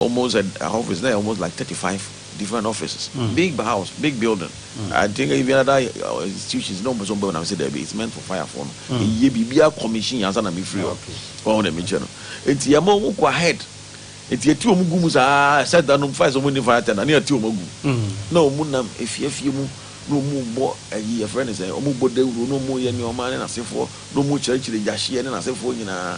almost a office na almost like thirty five different offices mm. big house big building mm. I think even other uh, institutions na ɔmo sɛ ɔmo bɛn na sɛ dɛbi it's meant for fire for no mm. eye biribi a commission yansa na mi firi hɔ ɔmo na mi kyɛ no eti ɛmo ɔmo kɔ ahead eti eti ɔmo gu mu saa sɛ da no fire sɛ ɔmo ni fire tender ne eti ɔmo gu mm. na ɔmo nam efiefie mu na ɔmo bɔ ɛyi ɛfrɛ ne sɛ ɔmo bɔ dawuro na ɔmo yɛ nneɛma ne n'asefoɔ na ɔmo kyerɛkyerɛ gyahyeɛ ne n'asefoɔ nyinaa.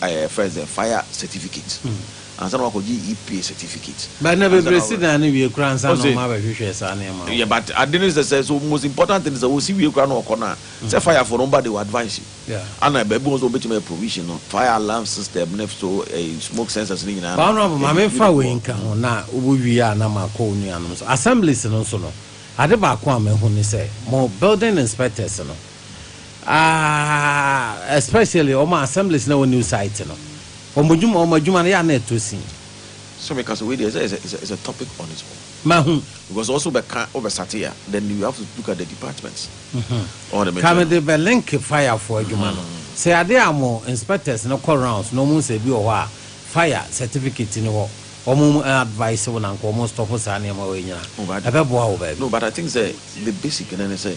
ɛɛ fɛn sɛ fire certificate ansa na wakɔgye EPA certificate. But na bebree si dan no wie kura ansa na wɔn abɛhwehwɛ saa nneɛma wɔ. Yeah but ade ne sɛ sɛ so most important thing sɛ wɔsi wie kura na wɔkɔ na sɛ fire fo no ba de wɔ advance you ana baabi wɔn sɛ wɔn betumi ayɛ provision no fire alarm system ne so ɛɛ smoke sensors ne nyinaa. But honourable maame nfa wei nka ho na wo wie a na ma kɔ onuanom so assemblies no so no ade baako a ma ehu ne sɛ mo building inspectors no. Ah especially wɔn assemblies na wɔ new site no. Wɔn adwuma wɔn adwuma no yɛ a na ɛtɔ sin. So me ka so wei deɛ sɛ is a is a topic on its own. Mahu. Because ɔso bɛ ka ɔbɛ sate a then you have to look at the departments. Ɔwɔ de me Ka no de bɛ link fire fo adwuma no. Sɛ ade a mo inspectors no kɔ rounds na wɔn sɛ ebi wɔ hɔ a fire certificate ni hɔ wɔn advice wo na nka wɔn stop saa nneɛma wei nyina. Ɛbɛ boa wo baabi. No but I think sɛ the basic no ne sɛ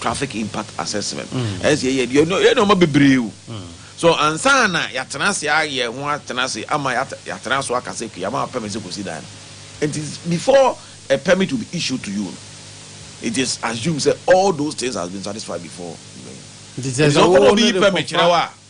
Traffic Impact Assessment, ɛsɛ sɛ yɛyɛ ɛno. Yɛn yɛ nneɛma bebree o. So ansa na yɛatena ase ayɛ ho atena ase ama yɛatena so aka sɛ Kuyama wɔ permit sɛ kɔsi dan no. Nti before a permit will be issued to you no, it is assumed sɛ all those things has been satisfied before. Nti sɛ ɔkɔma obi permit kyerɛ wo a.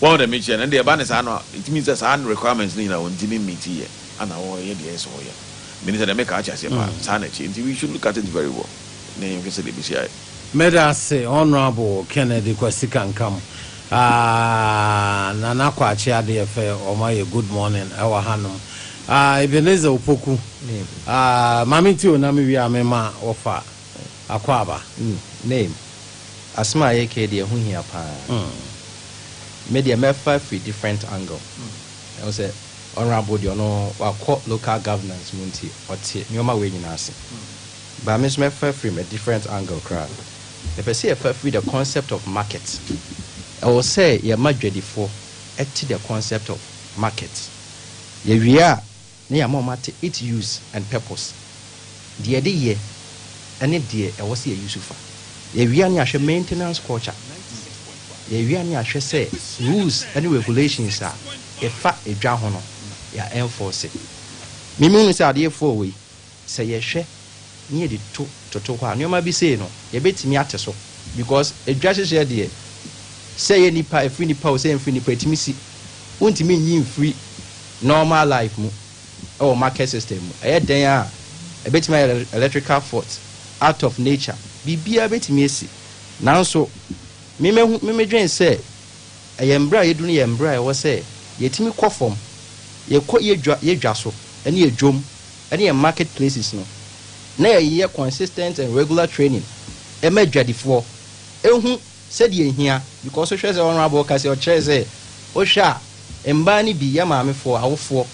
Wɔn de mekyɛ no, ɛnde ɛba no saa no a, ɛtumi sɛ saa requirements no nyinaa wɔntumi mmeeti yɛ ana wɔyɛ deɛ ɛsɛ sɛ wɔyɛ no. Menim sɛ deɛ meka ate aseɛ paa, saa na ɛteɛ. Nti we should look at it very well na yɛnhwɛ sɛdeɛ ɛbɛsi ayɛ. Meda ase Honourable Kennedy Kwasi Kankam. Aah Nana Kwakye Adeɛfɛ wɔn ayɛ good morning ɛwɔ hanom. Aah Ebenezer Opoku aah Mame Tio na me wie a me ma wo fa. Akwaaba, Name, Asem a yɛkɛi deɛ ɛho hia paa. Me deɛ mɛfa firi different angle. Ɛhu sɛ Honourable deɛ ɔno wakɔ local governance mu nti ɔte nnoɔma wei nyinaa ase. But me nso mɛfa firi a different angle koraa. Mepɛ sɛ yɛfa firi the concept of market. Ɛwɔ sɛ yɛma dwadifoɔ te the concept of market. Yɛwie a. Na yɛama wɔn ate it use and purpose, deɛ yɛde yɛ ɛne deɛ ɛwɔ sɛ yɛ use fa. Yɛawia ne ahwɛ maintenance culture, yɛawia ne ahwɛ sɛ rules ɛne regulations a ɛfa edwa ho no yɛ enforce. Memu no sɛ adeɛ four wei Sɛ yɛhwɛ na yɛde to toto hɔ a, nneɛma bi sei no, yɛbɛtumi ate so. Because adwa hyehyeɛ deɛ, sɛ ɛyɛ nnipa, ɛfiri nnipa o, sɛ ɛmfiri nnipa, ɛtumi si. Wontumi nyi mfiri normal life mu wɔ market system mu. Ɛyɛ dɛn a, ɛbɛtumi ayɛ electrical fault, out of nature, biribiara bɛtumi asi. Nanso, me mahu, me medwene sɛ, ɛyɛ mberɛ a yɛadu no yɛ mberɛ a ɛwɔ sɛ yɛtumi kɔ fam, yɛkɔ yɛdwa, yɛdwa so, ne yɛdwam. ne yɛn market places no, na yɛyɛ consistent and regular training ma adwadifoɔ hu sɛdeɛ ɛhia because wohwɛ sɛ Honourable ka sɛ ɔkyerɛɛ sɛ wohwɛ a mmaa no bi yɛ maamefoɔ, awofoɔ,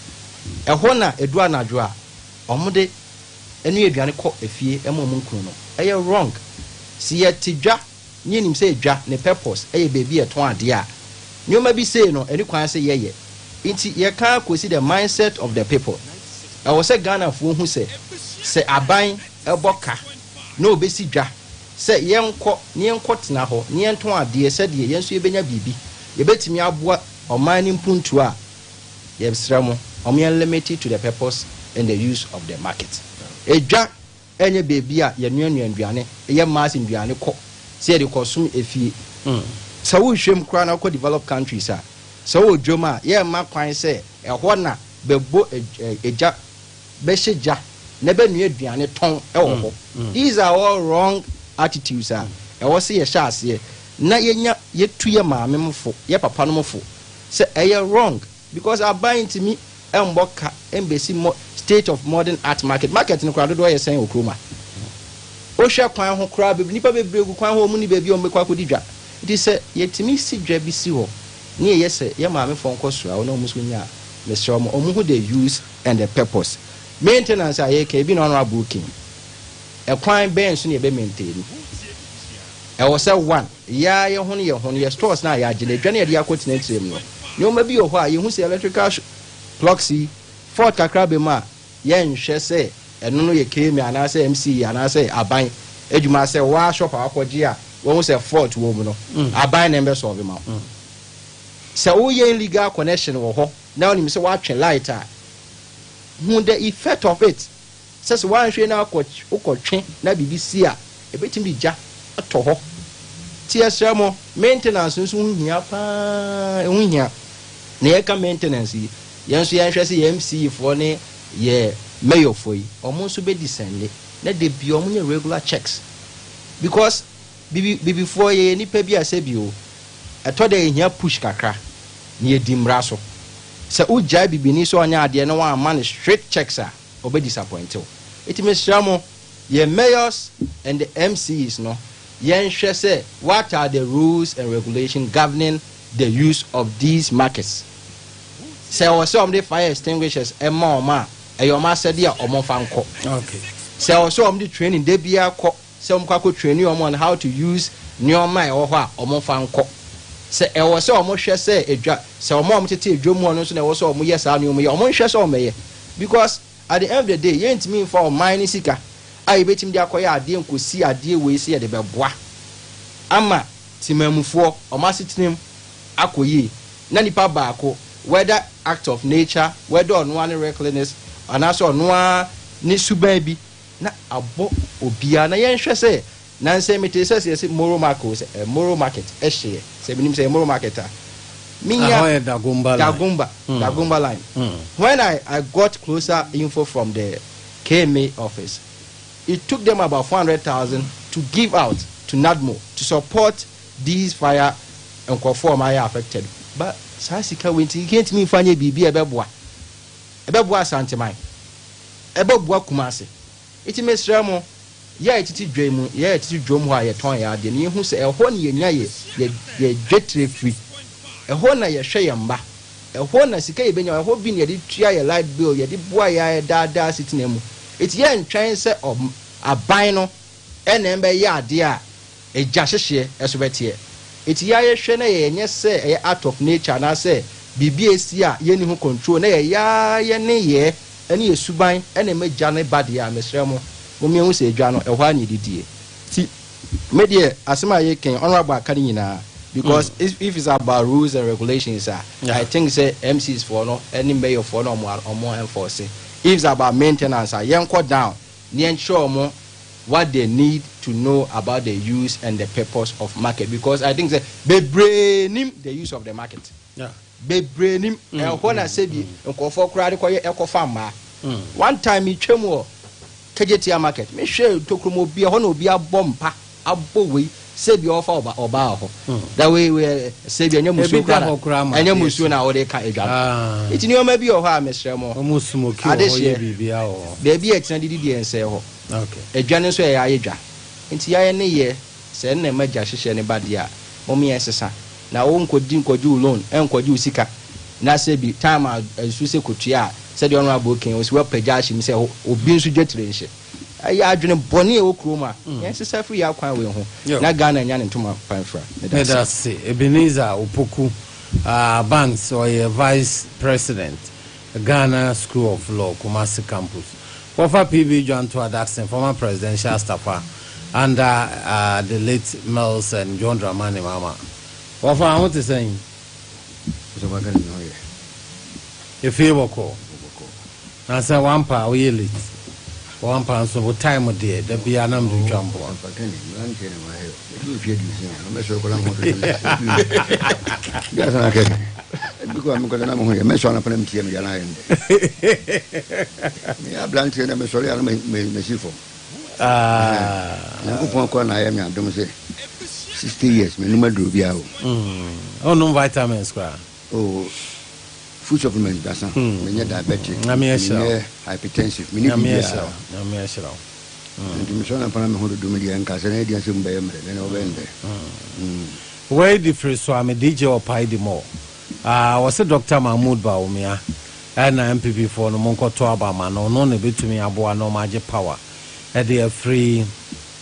ɛhɔ na ɛduru anadwo a wɔde ɛnoa aduane kɔ afie ma wɔn nkunu no, ɛyɛ wrong, sɛ yɛte dwa. Ne yɛ nim sɛ dwa ne purpose yɛ baabi a yɛ tɔn adeɛ a nneɛma bi sei no ɛni kwan sɛ yɛ yɛ nti yɛ ka kɔsi the mindset of the people ɛwɔ sɛ Ghana foɔ hu sɛ sɛ aban bɔ ka na ɔbɛsi dwa sɛ yɛ nkɔ na yɛ nkɔ tena hɔ na yɛ ntɔn adeɛ sɛdeɛ yɛ nso yɛ bɛnya biribi yɛ bɛtumi aboa ɔman no mpuntuo a yɛ srɛ mo wɔn yɛ limit it to the purpose and the use of the market dwa. ɛnyɛ baabi a yɛnoanoa nnuane, yɛ mass nnuane kɔ sɛ yɛde rekɔsom afie. Sɛ wohwɛm koraa na wokɔ developed countries a, sɛ wowɔ dwam a, yɛmma kwan sɛ ɛhɔ na bɛbɔ gya, bɛhyɛ gya na bɛnoa aduane tɔn wɔ hɔ. These are all wrong attitudes a ɛwɔ sɛ yɛhyɛ aseɛ na yɛnya, yɛtu yɛ maame mo fo, yɛ papa nom fo sɛ ɛyɛ wrong because aban ntumi Ɛmbɔ ka ɛmbɛsi mo state of modern art market market no koraa dodoɔ yɛ sɛn wɔ kurom a wo hwɛ kwan ho koraa bɛ nipa bebree gu kwan ho ɔmo ni baabi a ɔmo bɛkɔ akɔdi dwa nti sɛ yɛ tumi si dwa bi si hɔ ne yɛ yɛ sɛ yɛ maame foɔ nkɔ sra wo na ɔmo nso nya a mesrɛ ɔmo ɔmo hu the use and the purpose maintenance a yɛka ebi na ɔno aboo kin ɛkwan bɛn so ne yɛ bɛ maintain ɛwɔ sɛ one. Yɛ ara yɛhono yɛho no yɛ stores no a yɛagye no adwa no yɛde akɔ tenetire mu no nneɛma bi wɔ hɔ a yɛhu sɛ electrical plugs yi fault kakra bɛ mu a yɛnhwɛ sɛ ɛno no yɛ KMA anaasɛ MCE anaasɛ aban adwuma asɛ waa shop a wakɔgye a wahu sɛ fault wɔ mu no aban na ɛmbɛ sɔɔve ma wo sɛ woyɛ illegal connection wɔ hɔ na wonim sɛ woatwe light a hu the effect of it Sɛ sɛ woanhwɛ na wokɔtwe na biribi si a, ɛbɛtumi de gya atɔ hɔ. Nti yɛsrɛ mo, maintenance nso ho hia pa ara. Ɛho hia. Na yɛka maintenance yi, yɛn nso yɛnhwɛ sɛ yɛn MC foɔ ne yɛn Mayor foɔ yi, wɔn nso bɛ descende na da biara wɔn nyɛ regular checks. Because Bibi Bibi foɔ yɛyɛ nnipa bi a sɛbi o, ɛtɔ da yɛhia push kakra na yɛdi mmara so. Sɛ wogyae Bibini sɛ ɔnyɛ adeɛ na wɔamma no strict checks a, ɔbɛ disappoint wo nti mesrɛ mo yɛn mayors and the MCs no yɛnhwɛ sɛ what are the rules and regulation governing the use of these markets sɛ ɛwɔ sɛ wɔn de fire extinguishers ɛma wɔn a ɛyɛ wɔn asɛde a wɔn fa nkɔ sɛ ɛwɔ sɛ wɔn de training de bia kɔ sɛ wɔn kɔ akɔ traini wɔn on how to use nneɛma a ɛwɔ hɔ a wɔn nfa nkɔ sɛ ɛwɔ sɛ wɔn hwɛ sɛ edwa sɛ wɔn a wɔn tete edwom hɔ no nso na ɛwɔ sɛ wɔn yɛ saa nneɛma yi a wɔn nhwɛ sɛ wɔn bɛyɛ because at the end of the day yɛn ntumi nfa ɔman ne sika a yɛbɛtumi de akɔyɛ adeɛ nkɔsi adeɛ wei sɛ yɛde bɛboa ama temamufoɔ wɔn asetena mu akɔ yie na nipa baako whether act of nature whether ɔnoa ne recklessness anaasɛ ɔnoa ne suban bi na abɔ obiara na yɛn hwɛ sɛ nansɛ metee sɛ sɛ yɛse moro market sɛ eh, moro market ɛhyeɛ sɛ menim sɛ moro market a menya dagomba dagomba, mm. dagomba line mm. when I, I got closer info from the KMA office it took them about 400,000 to give out to NADMO to support these fire nkurɔfoɔ ɔma yɛ affected but saa sika wei nti yɛntumi mfa nyɛ biribi a ɛbɛboa ɛbɛboa asanteman Ɛbɛboa Kumase. Nti mesrɛ mo, yɛ tete dwa yi mu, yɛ tete dwom hɔ a yɛtɔn yɛn adeɛ no, yɛhu sɛ ɛhɔ na yɛnya yɛ, yɛ, yɛ dwetire firi. Ɛhɔ na yɛhwɛ yɛn mma. Ɛhɔ na sika yɛbɛnya, ɛhɔ bi na yɛde tua yɛn light bill, yɛde boa yɛn ara yɛn daa daa asetena mu. Nti yɛntwɛn sɛ ɔm, aban no Ɛnna ɛmma ɛyɛ adeɛ a egya hyehyeɛ nso bɛteɛ. Enti yɛa yɛhwɛ na yɛyɛ nyɛ sɛ ɛyɛ act of nature anaasɛ biribi a ɛsi a yɛnni ho control na yɛyɛ ara yɛ nneyɛɛ ne yɛ suban na ɛma gya no ba deɛ a, mesrɛ mo, mommyɛ hu sɛ gya no, ɛhɔ ara na ɛdi die. Nti me deɛ asɛm a yɛreka yi, Honourable aka ne nyinaa because if if it's about rules and regulations a, I think sɛ MCs foɔ no ne Mayor foɔ na wɔn wɔn enforce. If it's about maintenance a, yɛnkɔ down. ne yɛnkyerɛ wɔn what they need to know about the use and the purpose of market because I think sɛ bebree nim the use of the market. Yeah. bebree nim mm, ɛhɔ mm, na mm, sɛbi mm. nkurɔfoɔ koraa de kɔyɛ ɛkɔfa mmaa mm. one time metwam wɔ kagyetia market mehwɛ tokrom obi ɛhɔ na obi abɔ mpa abɔ wei sɛ bia ɔfa ɔba ɔbaa hɔ da wei wei sɛ bia ɛnyɛ musuo kora na ɛnyɛ musuo na wɔde ka adwa no eti nneɛma bi wɔ hɔ a mesrɛ mo ade hyɛ beebi a ɛtena didi deɛ nsɛɛ hɔ adwa no nso ɛyɛ ayɛ dwa nti yɛayɛ ne yɛ sɛ ɛnna ɛma gya hyehyɛ ne ba deɛ a mo meyɛ nsesa na wo nkɔdi nkɔgye loan ɛnkɔgye wo sika na sɛ bi time a ɛsu sɛ kɔtua a sɛdeɛ ɔno abɔ kan ɔsi wapagya ahyɛ mu sɛ obi nso dwa tire nhyɛ Ɛyɛ adwene bɔne a ɛwɔ kurom a, yɛnsesa mfiri yɛn akwan wei ho na Ghana anya ne ntoma pa mfra. Meda ase. Meda ase. Ebenezer Opoku, ah, Banks, ɔyɛ Vice President, Ghana School of Law, Kumasi Campus. Wɔfa PB Dwanto Adaksen, former Presidential Staffer under ah, the late Mills and John Dramani Mahama. Wɔfa a, ho te sɛn? Ɔsɔfo Akane, me ho yɛ. Efie bɔkɔɔ. Na sɛ wampa a woyɛ late. Wampa nso wo time deɛ da biara na mede twa mboa. Wonnom vitamins koraa? Oh full supplement dasa me nyɛ diabetic me nyɛ hypertensive me ni bi bi ara nyame ahyira wo nti me sɔ na pana me ho dodo me deɛ nka sɛ na ɛdi asɛ mu bɛyɛ mmerɛ na na ɔbɛn dɛ wei di firi so a me DJ ɔpae di mɔ ah wɔse Dr. Mahmoud Bawumia ɛna MPP foɔ no monkɔto aba ma no ɔno na ɛbɛtumi aboa na ɔma agye power ɛde afiri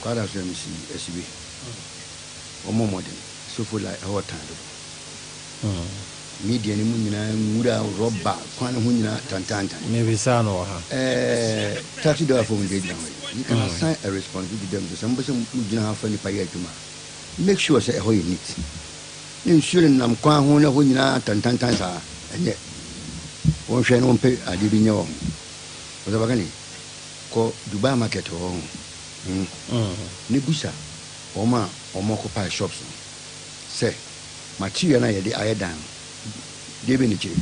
Kwada so MC Asibe wɔn mɔ mmɔden sofo la ɛhɔ ɔtan dodo media no mu nyinaa nwura rɔba kwan no ho nyinaa tantantan mebisa no wɔ ha ɛɛ taxi driver fo mo gyina gyina hɔ yi you can assign a responsibility to them sɛ mo bɛ sɛ mo gyina ha fa nipa yɛ adwuma make sure sɛ ɛhɔ yɛ neat ne nsuo no nam kwan ho na ɛhɔ nyinaa tantantan saa ɛnyɛ wɔn hwɛ no wɔn pɛ adeɛ bi nyɛ wɔ ho wɔsɛ baka ne Kɔ Dubai market hɔ ho no ne busa wɔn a wɔn occupy shops no sɛ material no a yɛde ayɛ dan no deɛ bɛn na ɛkyire.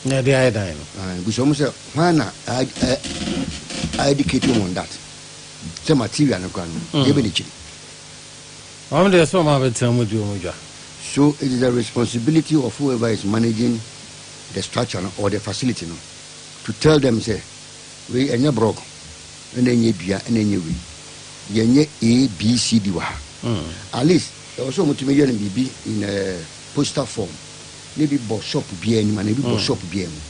Na yɛde ayɛ dan no. Aye busa wɔn sɛ hwan na a educate wɔn on that sɛ material no koraa no deɛ bɛn na ɛkyire. Wɔn deɛ sɛ wɔn a bɛtena mu di wɔn dwa. So it is the responsibility of whoever is managing the structure no or the facility no. To tell them sɛ wei ɛnyɛ brɔg ɛna ɛnyɛ dua ɛna ɛnyɛ wei yɛnyɛ ABCD wɔ ha at least ɛwɔ sɛ wɔtumi yɛ no biribi in a poster form na ebi bɔ shop biara anim anaa ebi bɔ shop biara mu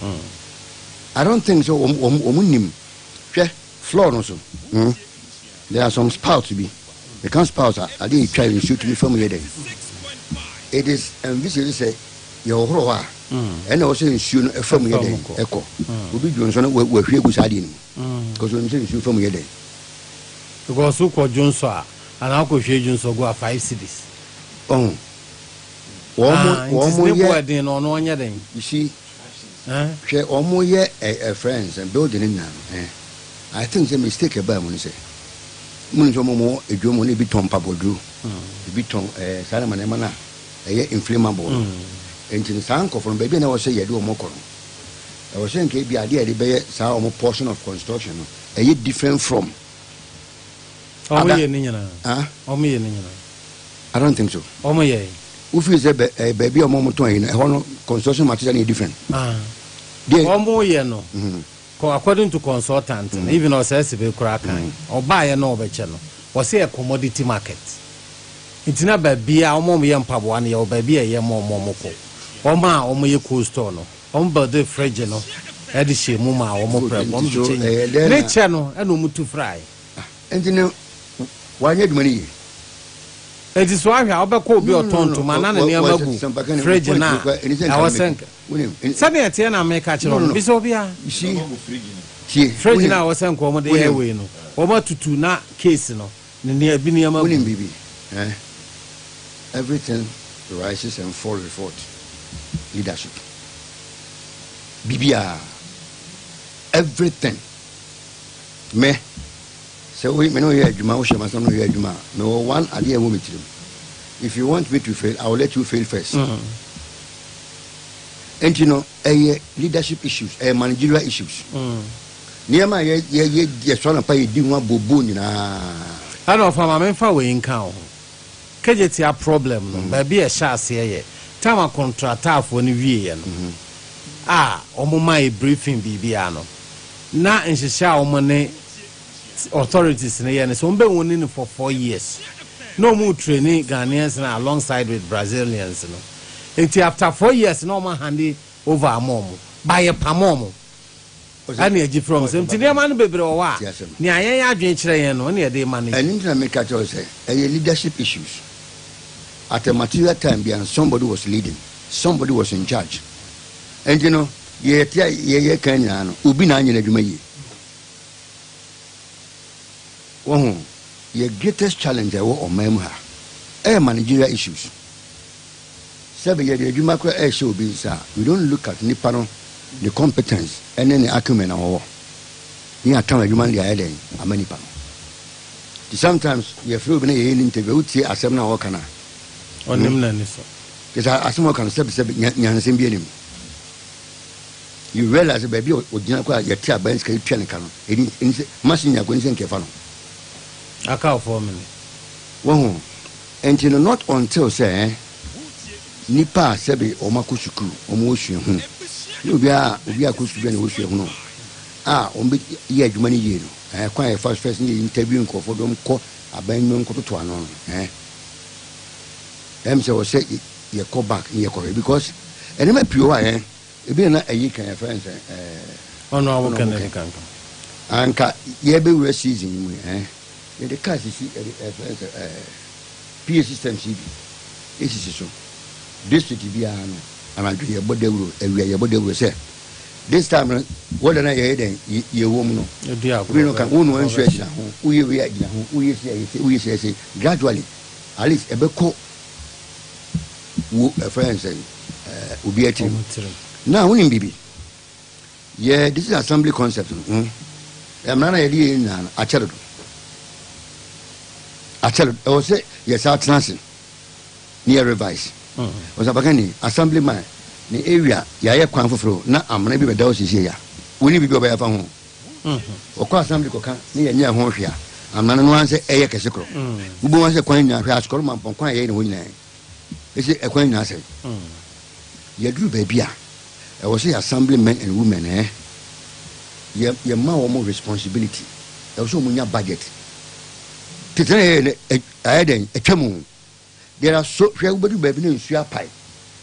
I don't think sɛ wɔn wɔn wɔn nim hwɛ. Floor no so no, there are some spouts bi. Meka spouts a, ade a etwa nsuo tumi fa mu yɛ dɛ. It is envisaged sɛ yɛhohoro hɔ a, ɛna ɛwɔ sɛ nsuo no fa mu yɛ dɛ ɛkɔ. Obi dwo nsɔ no, wahwie agu saa adeɛ no mu. Because onim sɛ nsuo fa mu yɛ dɛ. Because wokɔ dwo nsɔ a, anaa wokɔhwie dwo nsɔ gu a, five cedis. Ɔho. Wɔn mo yɛ. Nti ne boɔ ɛden no, ɔno ɔnyɛ dɛn? You see. eh. Hwɛ ɔmo yɛ eh eh friends eh building no nyinaa no eh. I think sɛ mistake ɛbaa mu ne sɛ mo nim sɛ ɔmo ɔmo adwuma mu no ebi tɔn mpaboaduro ebi tɔn eh saa nneɛma nneɛma no a ɛyɛ inflammable no nti no saa nkɔfo no baabi a na ɛwɔ sɛ yɛde ɔmo kɔ no ɛwɔ sɛ nka ebi adeɛ a yɛde bɛyɛ saa ɔmo portion of construction no ɛyɛ different from Wɔn yɛ ne nyinaa. Wɔn yɛ ne nyinaa. I don't think so. Wɔn yɛ. Wofiri sɛ baabi a wɔn tɔn yi na ɛhɔ no construction material yɛ different. Wɔn yɛ no mm-hmm. according to consultant mm-hmm. even ɔsɛ ɛsɛ bɛ kura kan mm-hmm. ɔbaa yɛ no ɔbɛkyɛ no wɔsɛ yɛ commodity market nti na baabi a wɔn yɛ mpaboa no yɛ wɔ baabi a ɛyɛ mo wɔn wɔn kɔ wɔn a wɔn yɛ cold store no wɔn bɛde fridge no ɛde hyɛ mu ma wɔn pɛrɛ wɔn de kyɛ ne kyɛ no ɛna wɔn tu fry. Enti na wanyɛ adwuma no yie. Enti so ahwɛ a wobɛkɔ obi a ɔtɔn ntoma na ne nneɛma gu fridge no a ɛwɔ sɛ nka sɛnea ɛteɛ na meka kyerɛ wɔn? Bisa obiara. Fridge no a ɛwɔ sɛ nka wɔde yɛ wei no, wɔatutu na case no ne nea ebi nneɛma gu. Wonim biribi? Ɛɛ. Everything rises and falls with what? Leadership. Biribiara. Everything. Me, sɛ wo, me ne wo yɛ adwuma, wohyɛ m'asɛm na woyɛ adwuma a, mewɔ one adeɛ a ɛwɔ me tirim. If you want me to fail, I will let you fail first. Mm. Enti no, ɛyɛ leadership issues, ɛyɛ managerial issues. Mm. Nneɛma a yɛ yɛ yɛ yɛsɔ anapa yɛdi ho abobo nyinaa. Ɛna ɔfa maame nfa wei nka ho. Kejetia problem no, mm. baabi a ɛhyɛ aseɛ yɛ tam akontratafoɔ no wieɛ no mm-hmm. a wɔn maa yɛ briefing biribiara no. na nhyehyɛ a wɔn ne authorities no yɛ no sɛ wɔn bɛ wɔn ni no for four years na wɔn retraini Ghanaians no alongside with Brazilians no nti after four years na wɔn ahande over ama wɔn ba yɛ pam wɔn ɛna agyi firi wɔn sɛ nti nneɛma no bebree wɔ hɔ a nea yɛn adwene kyerɛ yɛn no ɛna yɛde ma no. ɛno nti na meka kyerɛ sɛ ɛyɛ leadership issues at a material time bia somebody was leading somebody was in charge nti no Deɛ yɛte a yɛyɛ kan nyinaa no, obi na anyɛ n'adwuma yie. Wahu? Yɛ greatest challenge a ɛwɔ ɔman mu ha ɛyɛ managerial issues. Sɛ bi yɛde adwuma koraa ɛrehyɛ obi nsa a, we don't look at nipa no, ne competence ɛne ne acumen a ɔwɔ. Ne yɛatɔn adwuma no de ayɛ dɛn ama nipa no. Nti sometimes yɛfrɛ obi na yɛyɛ no interview a, wotie asɛm no a ɔreka no a, Ɔnim n'ani so. kyerɛ sɛ asɛm a ɔka no sɛbesɛbe nya, nyansɛm bi anim. you realize baabi a ɔgyina kɔ a yɛte aban sika yɛtua ne ka no ɛni ɛni sɛ machine nyako ɛni sɛ nkɛfa no aka four minutes wɔho ɛnti no not until sɛ eh, nipa a sɛbe wɔn akɔ sukuu wɔn wɔ suahunu ne obi a obi akɔ sukuu bi a na ɛwɔ suahunu a wɔn bɛ yɛ adwuma no yie no ɛɛ kwan a yɛfa fɛs ne yɛ interview nkurɔfoɔ dɔm kɔ aban nnwom kɔtoto ano no ɛɛ ɛm sɛ wɔsɛ yɛ kɔ bank ne yɛ kɔ hwɛ because ɛnɛma pii wɔ ayɛ ebi na ɛyi kan yɛ fɛn sɛ ɛɛ ɔno awo kan ɛdi kan kan anka yɛ bɛ wura season mu ɛɛ yɛ de car sisi ɛde ɛfɛn sɛ ɛɛ PA system si bi esisi so district bi ara no anadwo yɛ bɔ dawuro awia yɛ bɔ dawuro sɛ this time no wɔda na yɛ dɛn yɛ wɔ mu no ebi no kan wɔn nua nsu ɛgyina ho wɔyɛ wei ɛgyina ho wɔyɛ si ɛyɛ si wɔyɛ si ɛyɛ si gradually at least ɛbɛ kɔ. Wo ɛfrɛ yɛn sɛn? Eh, obi atirim. Na wonim biribi? Yɛ this is assembly concept no. Mm. Eh, mmara na yɛde yɛ nyinaa no akyɛ dodo. Akyɛ dodo. Ɛwɔ sɛ yɛ saa tena ase ne yɛ revise. Mm. Ɔsapaka ni assembly man ne area yɛayɛ kwan foforɔ na amena bi bɛda hɔ siesie ya. Wonim biribi ɔbɛyɛ afa ho? Wɔkɔ assembly kɔka na yɛnyɛɛ ho hwee a, amane no ara ne sɛ ɛyɛ kɛse korɔ. Mobɛhu ara sɛ kwan nyinaa, hwɛ Asukɔre Mampɔn kwan a yɛyɛ no hɔ nyinaa yi, ese ɛkwan nyinaa sɛe. Yɛduru baabi a, ɛwɔ sɛ yɛ assembly men and women eh, yɛ yɛma wɔn responsibility, ɛwɔ sɛ wɔn nya budget. Tete na yɛyɛ no, ɛ ayɛ dɛn, atwam o. There are so, hwɛ wobɛduru baabi na nsuo apae,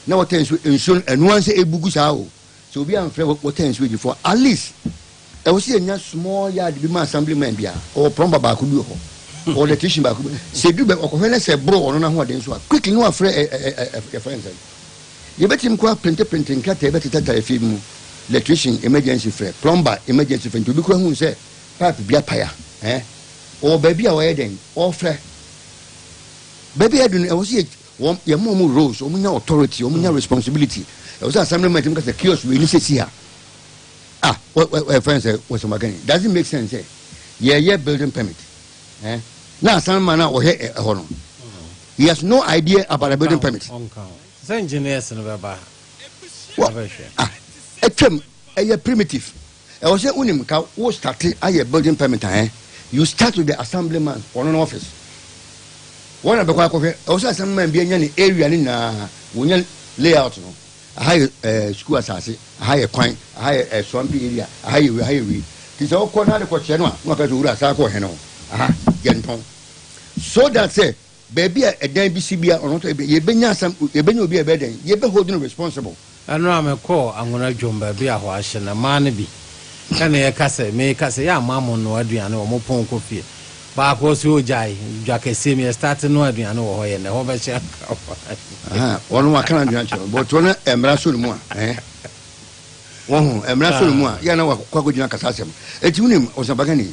na wɔtɛn so nsuo no, ɛno ara ne sɛ ɛbu gu saa o. Sɛ obi amfrɛ water and sewage foɔ a, at least ɛwɔ sɛ yɛnya small yard bi ma assembly man biara. Ɔwɔ plumber baako bi wɔ hɔ, ɔwɔ electrician baako bi. Sɛ ɛduru baabi ɔkɔhwɛ na sɛ ɛboro ɔno n'ahoɔden so a, quickly na wafrɛ ɛ ɛ ɛ ɛ yɛfrɛ no sɛn. Yɛbɛtumi kɔ aprintiprinte nkrataa bɛtetatare fie bi mu, electrician emergency frɛ, plumber emergency frɛ. Nti obi koraa hu sɛ pipe bi apae a, ɛɛ ɔwɔ baabi a ɔyɛ dɛn, ɔfrɛ. Baabi a yɛadu no, ɛwɔ sɛ yɛ. Wɔn yɛ ma wɔn roles, wɔn nya authority, wɔn nya responsibility. Ɛwɔ sɛ assembly man tumi ka sɛ kiosk wei ni sɛ si ha. Ah, wɔ wɔ ɛfɛn eh, sɛ wɔ sɛ magani. Does it make sense sɛ yɛyɛ building permit? Eh, na assembly man a ɔhwɛ ɛhɔ no, he has no idea about a building permit. Sɛ engineers no bɛba abɛhwɛ. Ah, atwam ɛyɛ primitive. Ɛwɔ sɛ wonim ka wo starte ayɛ building permit a ɛn, you start with the assembly man ɔno no office hɔ na bɛkɔ akɔhwɛ. Ɛwɔ sɛ assembly man bia nya ne area no nyinaa wɔnya layout no, aha yɛ eh, school asase, aha yɛ kwan, aha yɛ eh, swampy area, aha yɛ wei, aha yɛ wei. Ti sɛ wokɔ na ade kɔkyerɛ no a, na waka sɛ owura saa kɔ ɔhene hɔ, aha yɛ ntɔn. So that sɛ Baabi a ɛdan bi si biara, ɔno nso ɛbɛ, yɛbɛnya asɛm, yɛbɛnya obi a ɛbɛyɛ dɛn? Yɛbɛ hold no responsible. Ɛno a mekɔɔ Anwona dwom baabi a hɔ ahye no, mmaa no bi ne yɛka sɛ, meka sɛ, yɛamma mo nnoa aduane wɔ mo pon nkɔ fie. Baako ɔse, oh gyae, dwa kɛseɛ mu, yɛstarte noa aduane wɔ hɔ, yɛ nnɛ hɔ bɛhye anka hwan? Aha, ɔno waka n'adwene akyerɛ wo, but ɔno mmara sɔ ne mu a, eh? Woahu, mmara sɔ ne mu a, yɛ a na wakɔ akɔgyina kasa asɛm. Enti wonim, Ɔsɛmpakani,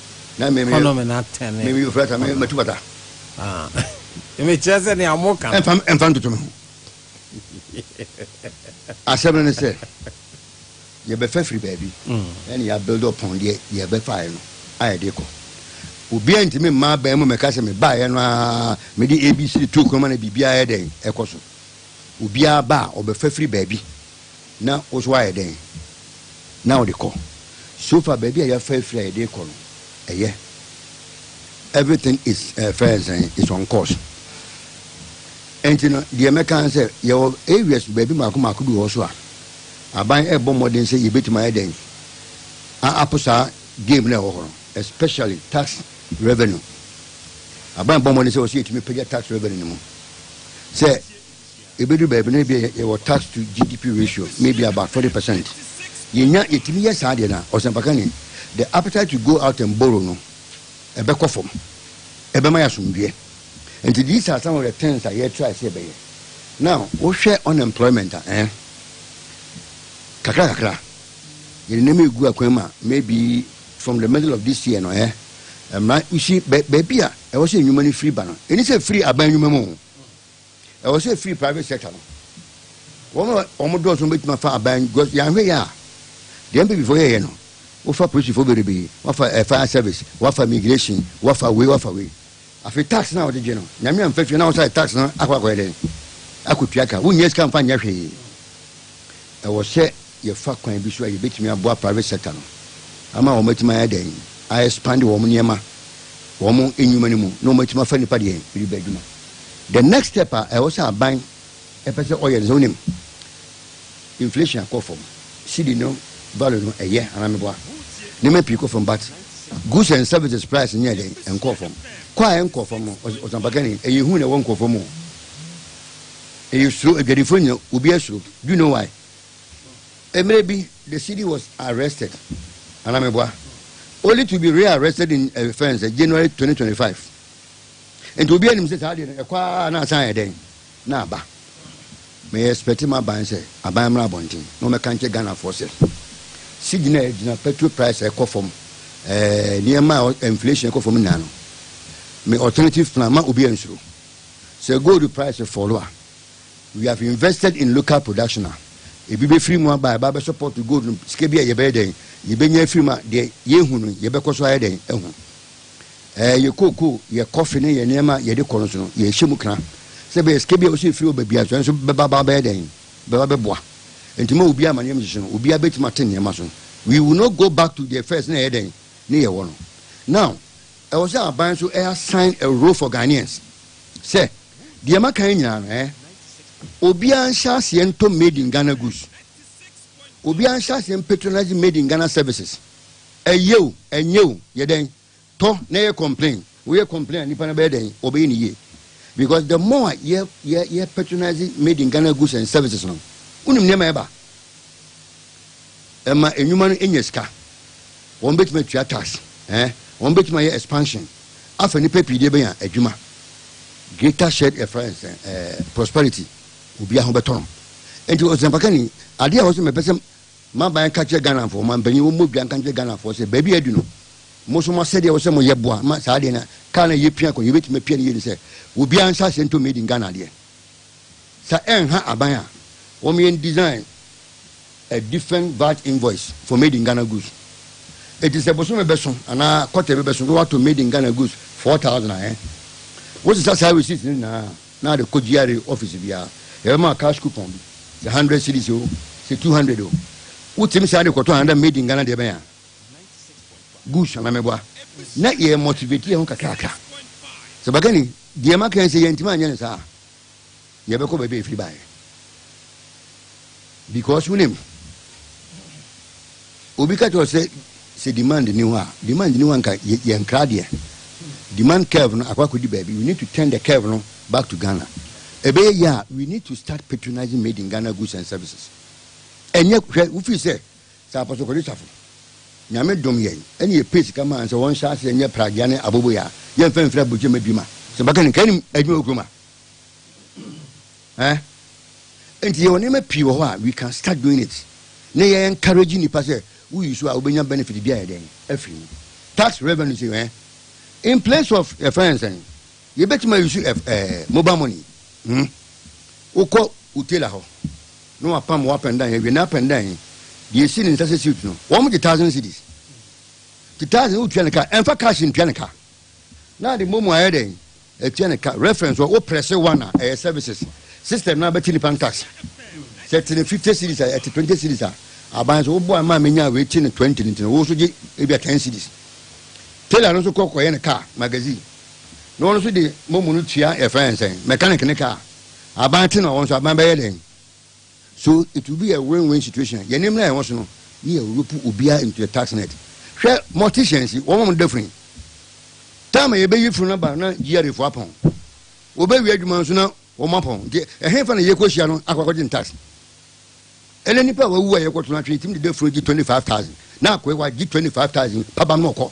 na me kɔnɔ me na tɛn ne me fura ta me matu bata me kyerɛ sɛ nea mo ka ɛmfa ɛmfa ntoto me ho asɛm no ne sɛ yɛbɛfa firi baabi mm. ɛne yɛabuild upon deɛ yɛbɛfaeɛ no a yɛde kɔ obiara ntumi mma abɛn mu mɛka sɛ mebaeɛ no a mede abc to kuroma na biribiara yɛ dɛn ɛkɔ so obiara ba a ɔbɛfa firi baabi Na wo nso woayɛ dɛn na wode kɔ? So fa baabi a yɛafa afiri a yɛde rekɔ no yɛ? Everything is eh, fɛn sɛn is on course. Enti no, deɛ mɛka ne sɛ yɛwɔ areas baabi mmaako mmaako bi wɔ hɔ so a aban rebɔ mmɔden sɛ yɛbɛtumi ayɛ dɛn a apo saa game no a ɛwɔ hɔ no, especially tax revenue. Aban bɔ mmɔden sɛ wɔ sɛ yɛtumi pagya tax revenue no mu sɛ Ebedu baabi no ebia yɛwɔ tax to GDP ratio may be about forty percent. Yenya yetumi yɛ saa deɛ no a, ɔsɛmpakani, the appetite to go out and borrow no ɛbɛkɔ fam. Ɛbɛma yɛ asomdwoeɛ. Nti these are some of the things a yɛ try sɛ yɛbɛyɛ. Now wohwɛ unemployment a ɛɛ kakra kakra yɛde nneɛma egu akwan mu a maybe from the middle of this year no ɛɛ ɛmra you see baabi a ɛwɔ sɛ nnwuma no firi ba no ɛni sɛ firi aban nnwuma mu o. Ɛwɔ sɛ efiri private sector no. Wɔn a wɔn dɔɔso no betumi afa aban because yɛanhwɛ yɛ a deɛ NPP fo yɛyɛ no wofa polisifo berebee wafa eh, fire service wafa immigration wafa wei wafa wei afei tax no a wɔde gye no nyame amfa fie na wɔsa tax no akɔ akɔyɛ dɛn akɔtua ka wonyɛ sika mfa nyɛ hwee ɛwɔ sɛ yɛfa kwan bi so a yɛbɛtumi aboa private sector no ama wɔn atumi ayɛ dɛn a expand wɔn nneɛma wɔn nnwuma no mu na wɔn atumi afa nipa deɛ biri bɛ adwuma the next step a ɛwɔ sɛ aban ɛpɛ sɛ ɔyɛ no sɛ wonim inflation akɔ fam cedi no value no ɛyɛ anaa meboa nneɛma pii kɔ fam but goods and services price nyɛ dɛn ɛnkɔ fam kɔ a ɛnkɔ fam no ɔsampakani ɛyɛ hu na ɛwɔ nkɔ fam o ɛyɛ suro adwadifoɔ nyina obi asuro do you know why Mmerɛ bi, the CD was arrested, anaa meboa, only to be re-arrested in a fence eh, January 2025. Nti obiara nim sɛ saa adeɛ no ɛkɔ ara na asan ayɛ dɛn na aba. Meyɛ expect m'aban sɛ aban mmra abɔnten na wɔmmɛka nkyɛ Ghanafoɔ sɛ cedi no a ɛgyina petrol price a ɛkɔ fam ɛɛ nneɛma a inflation ɛkɔ fam nyinaa no me alternative plan ma obiara nsuro sɛ gold price fall a We have invested in local production a ebi bɛfiri mu aba a ɛba bɛsɔ pɔt gold no sika bi a yɛbɛyɛ dɛn yɛbɛnya afiri mu a deɛ yɛhu no yɛbɛkɔ so ayɛ dɛn ahu ɛɛ yɛ kookoo yɛ kɔfe ne yɛ nneɛma a yɛde kɔ no so no yɛhyɛ mu kra sɛ bɛyɛ sika bi a wɔsɛ ɛfiri ɔba bia so ɛnso bɛba ba bɛyɛ dɛn bɛba bɛboa nti ma obiara amaneɛ mhyehye no obiara bɛtumi ate nneɛma so we will not go back to the first na ɛyɛ dɛn ne yɛwɔ no now ɛwɔ sɛ aban so ɛyɛ assign a role for Ghanaians sɛ Deɛ maka yi nyinaa no ɛɛ, obiara nhyɛ aseɛ ntɔ made in Ghana goods. Obiara nhyɛ aseɛ mpatronise made in Ghana services. Ɛyɛ o, ɛnyɛ o, yɛ dɛn? Tɔ na yɛ complain. Woyɛ complain a nipa no bɛyɛ dɛn? Ɔbɛyɛ ne yie. Because the more a yɛ yɛ yɛ patronise made in Ghana goods and services no, wonim nneɛma a ɛba? Ɛma nnwuma no nya sika. Wɔbɛtumi atua tax, ɛɛ, wɔbɛtumi ayɛ expansion. afa nnipa pii de abenya adwuma. Greater shared ɛfrɛ no sɛn ɛɛ prosperity obiara ho bɛtɔ no nti ɔsɛmpakani adeɛ a wɔsɛ mɛpɛ sɛ maban nka kyerɛ Ghanafoɔ ma mpanyin wɔn mmɔ dua nka nkyerɛ Ghanafoɔ sɛ baabi a adu no mo nso mo asɛdeɛ wɔ sɛ moyɛ boa ma saa adeɛ na kaa na yɛpia kɔ no yɛbɛtumi apia no yie ne sɛ obiara nsa ase ntɔ made in Ghana adeɛ Sa ɛnha aban a wɔn yɛn design a different vat invoice for made in Ghana goods eti sɛ bosome bɛso anaa kɔtɛ bi bɛso na wato made in Ghana goods four thousand a ɛn wosesa saa receipt no nyinaa na ade kɔ GRA office biara yɛbɛma cash coupon bi sɛ hundred cedis o sɛ two hundred o wotim saa de kɔtɔ another made in Ghana deɛ bɛn a goods anamɛboa na yɛ motivate yɛn ho kakrakra sɛ bagani Deɛ maka yi, sɛ yɛantumi anyɛ no saa a, yɛbɛkɔ baabi a yɛfiri baeɛ. Because wonim, obi ka kyerɛ wo sɛ sɛ demand nni hɔ a, demand nni hɔ a nka yɛ- yɛnkra deɛ. Demand curve no akɔ akɔdi baabi. We need to turn the curve no back to Ghana. Ɛbɛyɛ yie a, we need to start patronizing made in Ghana goods and services. Ɛnyɛ hwɛ wofiri sɛ Sɛ Apostle Kwadu Safo, Nyame dom yɛn ne yɛpɛɛ sika maa no sɛ wɔn hyɛ aseɛ nyɛ pragea ne aboboyɛ a, yɛn mfa mfiri aburokyi mma adwuma. Sɛ bɛka no, nkanim adwuma wɔ kurom a eh. Nti yɛwɔ nneɛma pii wɔ hɔ a we can start doing it ne yɛ encourage nnipa sɛ wo yi so a wobɛnya benefit bi ayɛ dɛn afiri mu. Tax revenue sei eh, in place of yɛfrɛ no sɛn, yɛbɛtumi ayi so eh, mobile money hmm, wokɔ wo tailor hɔ. na wapam wo apɛndan he awie na apɛndan he deɛ esi ne nsa sɛ suit no wɔn gye thousand cedis nti thousand wo tua ne ka ɛnfa cash ntua ne ka na de momo ayɛ dɛn atua ne ka reference wɔ wo prɛse one a ɛyɛ services system na abɛte nipa ntas sɛ te ne fifty cedis a ɛte twenty cedis a aban so woboa ma menya wei te ne twenty ne nti no wo so gye ebi a ten cedis tailor no nso kɔ kɔyɛ ne car magazine na wɔn nso de momo no tua yɛfrɛ yɛn sɛn mechanic ne car Aban te na wɔn nso aban bɛyɛ dɛn? So it will be a win win situation? Yɛn anim na yɛn ho so no ne yɛ ropu obiara into the tax net. Hwɛ morticians yi, wɔn a wɔda funu yi. Time a yɛbɛyi funu no aba na GRA fo apɔn. Wɔbɛwie adwuma nso na wɔn apɔn. Nti ɛhefa na yɛkɔhyia no akɔ akɔgye tax? Ɛnɛ nipa a wawu a yɛkɔto no atwene tumi deda funu gye 25,000 na akɔe hɔ agye 25,000 pabam na ɔkɔ.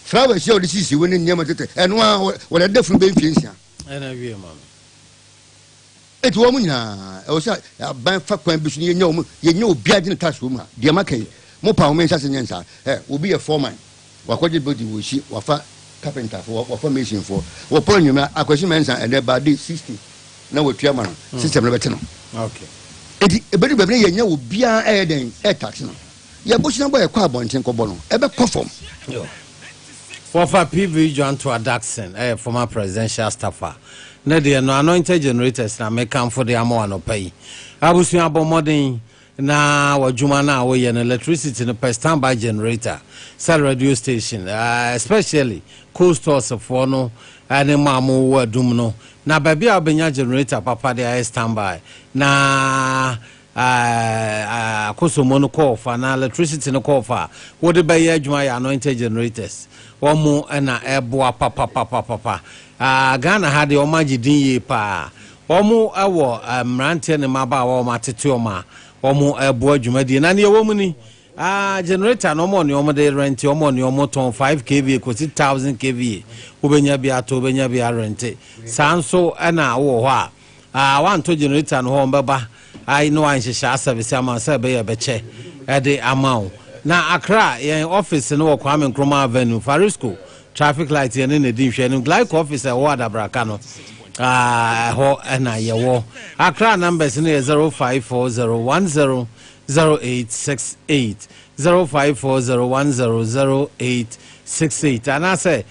Flowers a wɔde sisi hɔ ne nneɛma tete ɛno ara wɔde adeda funu bɛyɛ mfie nsia. Ɛna wiɛ ma me. Enti wɔn nyinaa, ɛwɔ sɛ aban fa kwan bi so na yɛnya wɔn, yɛnya obiara gyina task wɔ mu a, deɛ maka yi, mo pa wɔn nhyɛ ase nyɛ nsaa. Ɛ, obi yɛ foreman, wakɔgye building wɔ Ɔsi, wafa carpenter fo, wafa mason foɔ, wɔpɔn anwummerɛ a, Akwasi Mensah ɛnɛ baa de 60 na watua ma no, system no bɛte no. Okay. Enti, ɛbɛdu baabi na yɛnya obiara ɛyɛ dɛn, ɛtax no. Yɛ bosuabɔ a ɛkɔ abɔnten kɔbɔ no, ɛbɛkɔ fam. Wɔfa PV John Toa Dackson ɛyɛ former presidential staffer. Ne deɛ no anointed generators na me kanfo de ama wo anɔpa yi. Abusua bɔ mmɔden na wɔ adwuma no a wo yɛ no electricity no pɛ stand by generator sɛ radio station eh especially cold stores foɔ no ɛne mo a mo wɔ adum no na baabi a wo bɛnya generator papa de ayɛ stand by na Akosombo no kɔɔ fa na electricity no kɔɔ fa a, wode bɛyɛ adwuma yɛ anointed generators. Wɔn na ɛboa papapapapa. Ghana ha deɛ wɔn agye din yie paa. Wɔn wɔ mmeranteɛ ne mmabaawa a wɔn atete wɔn a wɔn boa dwumadie. Na nea ɛwɔ mu ni, generator no wɔn wɔ nea wɔn de rente, wɔn wɔ nea wɔn tɔn five kva kɔsi thousand kva. Wobɛnya bi ato, wobɛnya bi arente. Saa nso na wowɔ hɔ a, Aa wanto generator no hɔ ɔmbɛba ai na wanhyehyɛ asɛvese ama wo sɛ ɛbɛyɛ ɛbɛkyɛ ɛde ama wo na Accra yɛn office no wɔ Kwame Nkrumah Avenue Farisco traffic light yɛne na di nhwɛanim Glyco office a ɛwɔ Adabraka no aa ɛhɔ ɛna yɛwɔ Accra numbers no yɛ 0540100868 0540100868 anaasɛ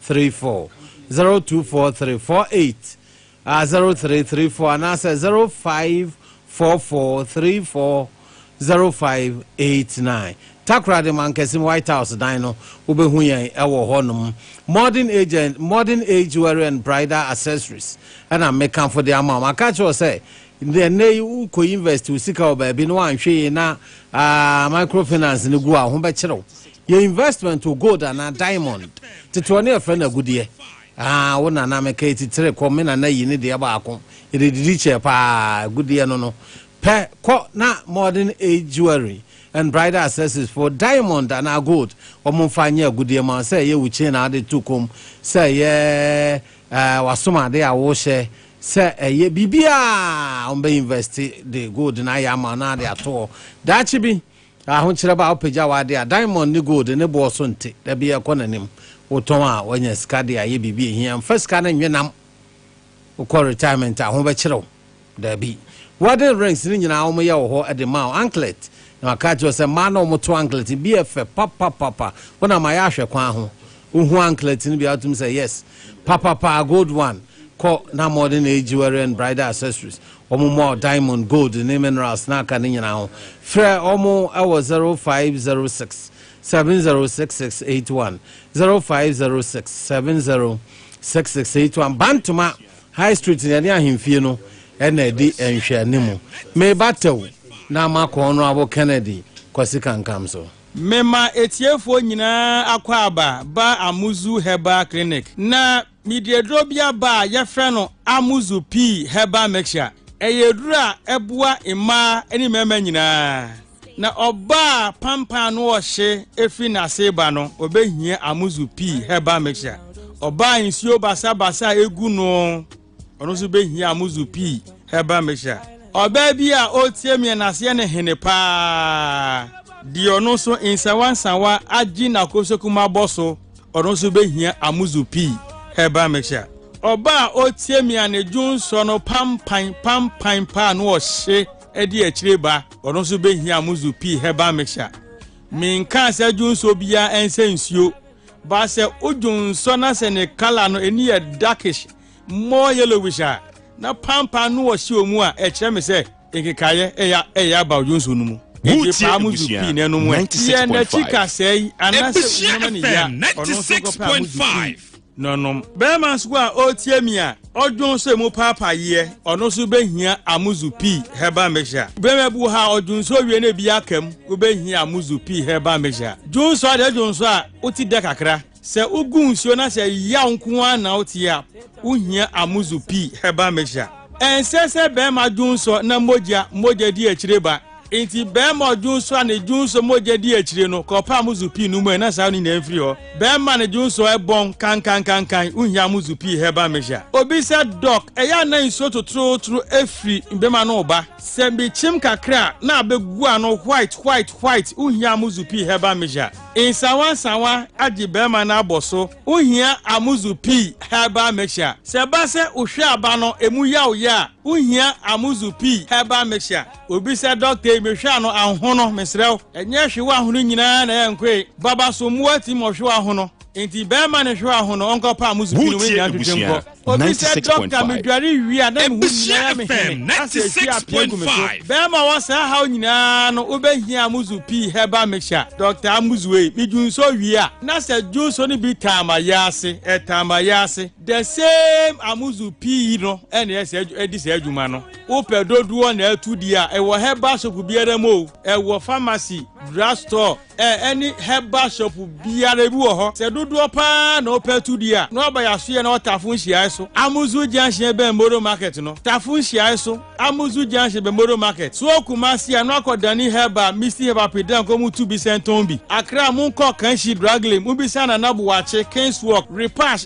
three four zero two four three four eight ah zero three three four anaasɛ zero five four four three four zero five eight nine takoradi mankɛse white house dan no wobɛhu yɛn ɛwɔ hɔnom modern agent modern age wearing and bridal accessories ɛna mekanfo de ama wɔn aka kyerɛ sɛ Nti ɛnnɛ yi wo kɔ invɛst wo sika wɔ baabi na woanhwɛ yie na micro finance no gu a, wo ho bɛkyere wo. Yɛ investment wɔ gold anaa diamond. Tete hɔ no yɛfrɛ no agudeɛ. Aa wo nana meka yi titire kɔ me nana yi ne deɛ baako. Yɛde didi kyɛɛ paa agudeɛ no no. Pɛ kɔ na modern age jewelry and bridal accessories foɔ diamond anaa gold wɔn mfa nyɛ agudeɛ ma wo sɛ ɛyɛ wo chain a wode to kɔn mu sɛ ɛyɛ ɛɛ wasom adeɛ a wohyɛ. Sɛ ɛyɛ biribi a wɔbɛ invest de gold no ayɛ ama wo na de ato hɔ. Daakye bi, ahokyerɛ ba a wopagya w'ade a diamond ne gold ne boɔ so nte, da bi ɛkɔ n'anim. Wotɔn a woanya sika de ayɛ biribi a ɛhia. Mfa sika no nnwe nam. Wokɔ retirement a ho bɛkyere wo? Dabi. Wedding rings no nyinaa wɔyɛ wɔ hɔ de ma wo. Anklet, na wɔaka akyerɛ wo sɛ mmaa na wɔto anklet no bi yɛ fɛ papapapa. Wonam ayɛ ahwɛ kwan ho. Wohu anklet no bi a, wotumi sɛ yes papapa a gold one kɔ na ama wɔde ne jewelry and bridal accessories wɔn mmɔ diamond, gold ne minerals na aka no nyinaa ho. Frɛ wɔn wɔ zero five zero six seven zero six six eight one, zero five zero six seven zero six six eight one. Bantoma High Street na yɛne ahemfie no na edi nhwɛanimu. Meba Tew na makɔ Honourable Kennedy Kwasi Kankam so. Mema atiefoɔ nyinaa akwaaba ba Amuzu Herbal Clinic. Na mede aduro bi aba a yɛfrɛ no Amuzu Pea Herbal Mixture. Ɛyɛ aduro a ɛboa mmaa ne mmarima nyinaa. Na ɔbaa a pampan ano ɔhye firi n'ase reba no, ɔbɛhia Amuzu Pea Herbal Mixture. Ɔbaa a nsuo basabasa gu no. Ɔno nso bɛhia muzu pii ɛba mehyia. Ɔbaa bi a ɔretie meɛ n'aseɛ ne hene paa deɛ ɔno nso nsawa nsawa agye n'akosokum abɔ so ɔno nso bɛhia amuzu pii ɛba mehyia. Ɔbaa a ɔretie me anadwo nsɔ no pampan pampan paa no ɔhye ɛde akyire ba ɔno nso bɛhia amuzu pii ɛba mehyia. Menkaa sɛ dwo nsɔ biara ɛnsɛ nsuo But sɛ odwo nsɔ na sɛ ne colour no ani yɛ darkish, more yellowish a, na pampaa no wɔ hyew mu a, ɛkyerɛ me sɛ nkekaeɛ ɛyɛ aba odwo nsɔ no mu. Enti paa mo zu pii na ɛnom ɛ. Yɛ n'akyi kasɛe anaasɛ wonoma ne yea, ɔno nso nkɔpɛ a mo zu pii na ɔnom. Bɛɛma nso a ɔretie me a. Ɔdwen sɛ mu paapaeɛ ɔno nso bɛhia Amuzu Pii Herbal Mixture. Bɛma bu ha a ɔdwen sɛ owie na ebi aka mu, wobɛhia Amuzu Pii Herbal Mixture. Dwen nso adeɛ dwen nso a wote dɛ kakra. Sɛ wogu nsuo na sɛ yaw nko ara na wote a, wohia Amuzu Pii Herbal Mixture. Ɛnsɛ sɛ bɛrima dwen nsɔ na mogya mogya di akyire ba. Enti bɛmma a ɔdwonsɔ a ne dwonsɔ mogya dii akyire no kɔɔ paa muzu pii no mu ɛ na saa no nyinaa mfiri hɔ. Bɛmma a ne dwonsɔ ɛ bɔn kankankankan nhia muzu pii hɛ ba mehyɛ. Obi sɛ, Dɔk, ɛyɛ a na nsuo totorotoro firi mbɛmma no reba? Sɛ mekyim kakra a na abɛ gu ano white white white nhia muzu pii hɛ ba mehyɛ. Nsawa nsawa agye bɛmma no abɔ so nhia a muzu pii hɛ ba mehyɛ. Sɛ ɛba sɛ wohwɛ aba no ɛmu yaw yɛ a nhia a muzu pii hɛ ba mehyɛ. Obisa dɔkta yi, Mehwɛ a no anho no, mesrɛ wo, ɛnyɛ hwe w'ahono nyinaa na ɛnkoe? Baba, so mmoa tim ɔhwe w'ahono? Enti bɛrima no hwe w'ahono, ɔnkɔ paa mo supini mu ne nea ntwetwe nkɔ. Obisa dɔkta, Medware wie a, na me ho nyinaa yɛ me hene, na sɛ ɛhwie a pii gu me so. Bɛrima, ɔwɔ saa haw nyinaa no, wobɛhia Amuzu Pii Herbal Mixture, Dɔkta Amuzu ei. Me dwu nso wie a, na sɛ dwu nso no bi taa m'ayɛ ase, ɛtaa m'ayɛ ase. The same Amuzu Pii yi no na ɛdi saa adwuma no. Wopɛ dodoɔ na ɛto di a, ɛwɔ herbal shop biara mu o, ɛwɔ pharmacy, drug store, ɛ, ɛne herbal shop biara ebi wɔ hɔ. Sɛ dodoɔ pa ara na wopɛ to di a, na ɔba Yasoyɛ na ɔwɔ Tafo nhyiae so, Amuzu junction bɛn Moro market no. Tafo nhyiae so, Amuzu junction bɛn Moro market. So wɔ Kumasi a, na wakɔ Dani herbal, Misty herbal pii dɛn kɔ mu tu bi sɛ ntɔn bi. Accra, monkɔ Kanshi drug lane, mobisa Nana Boakye, King's walk, Repash,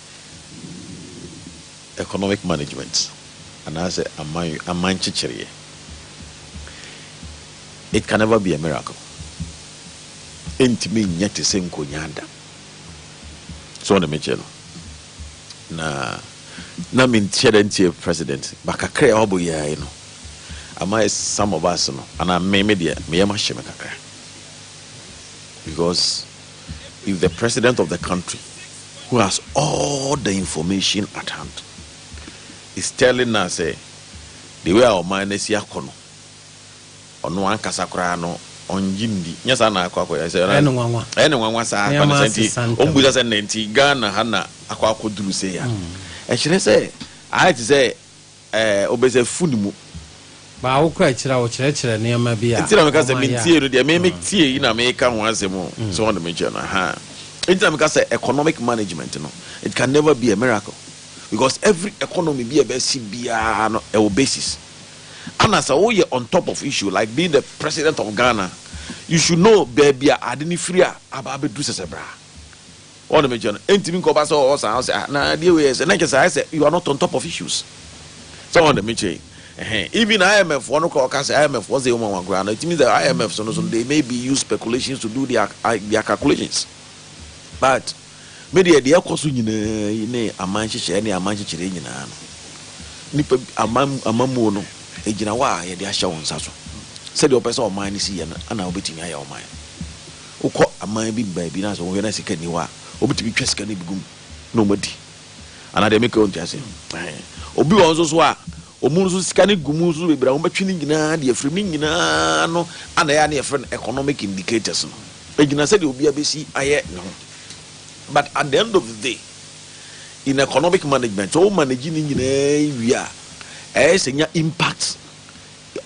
Economic management anaasɛ aman aman nkyekyereɛ it can never be a miracle ɛntumi nyɛ te sɛ nkonyaa da so ɔne mekyɛ no na na menkyɛ dɛ ntie president ba kakra a ɔbɔ yɛae no ama some of us no anaa me me deɛ meyɛ mahyɛ me kakra because if the president of the country who has all the information at hand is telling us sɛ the way a ɔman no asi akɔ no ɔno ankasa koraa no ɔngye ndi nyɛ saa na akɔ akɔ yɛ sɛ ɛyɛ ne nwanwa ɛyɛ ne nwanwa saa akɔ ne sɛ nti ɔmbusa sɛ nnɛ nti Ghana ha na akɔ akɔ duru sɛ ya ɛkyerɛ sɛ ayɛ te sɛ Ɛɛ, ɔbɛ sɛ food mu. Baa wo kora akyiri a wokyerɛkyerɛ nneɛma bi a. Nti na meka sɛ me ntie no deɛ me me tie yi na meka ho asɛm o so wɔn de me kyerɛ no ahaa nti na meka sɛ economic management no it can never be a miracle because every economy bi a ɛbɛsi biara no ɛwɔ basis ana sɛ woyɛ on top of issue like being the president of Ghana you should know baabi a ade no firi a aba abɛduru sɛsɛbra Wɔn de me kyɛ no, ɛntumi nkɔ ba sɛ ɔwɔ saa ɔsɛ a, na adeɛ wei yɛ sɛ, na nkyɛ sɛ ayɛ sɛ you are not on top of issues. Sɛ wɔn de me kyɛ yi, ɛhɛn, even IMF foɔ no koraa wɔka sɛ IMF foɔ sɛ yɛ nwanwa koraa no, it means that IMF so no so no, they may be use speculations to do their, their calculations. But, me deɛ, deɛ ɛkɔ so nyinaa yi ne aman nhyehyɛeɛ ne aman nkyekyeree nyinaa no, nipa, aman, amammuo no, ɛgyina hɔ a yɛde ahyɛ wɔn nsa so. Sɛdeɛ wɔpɛ sɛ ɔman no si yɛ no na wɔbɛtumi ayɛ ɔman no. Wokɔ aman bi mu baabi na sɛ wohwɛ na sika nni hɔ a, wɔbɛtumi twa sika no bi gu mu na wɔadi. Anaa deɛ meka wɔnte ase. Obi wɔ nso so a, wɔn nso sika no gu mu nso bebree a wɔbɛtwe no nyinaa de afiri ne nyinaa no ana ɛyɛ a na yɛfrɛ no economic indicators no. Ɛgyina sɛdeɛ obiara bɛsi ayɛ ne ho. But at the end of the day, in economic management, sɛ wo manage ne nyinaa wie a, ɛyɛ sɛ nya impact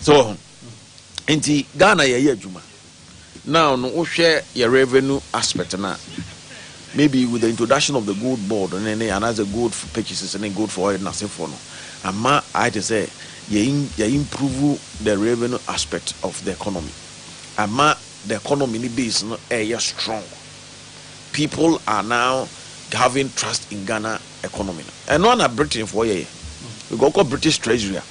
so wɔ ho nti ghana yɛyɛ adwuma now no wohwɛ yɛ revenue aspect no a maybe with the introduction of the gold board ne ne anaasɛ gold for purchases ne gold for oil nasefoɔ no ama ayɛ te sɛ yɛ improve the revenue aspect of the economy ama the economy ne base no ɛyɛ strong people are now having trust in ghana economy no ɛno ara na Britain foɔ yɛyɛ because ɔkɔ British treasury a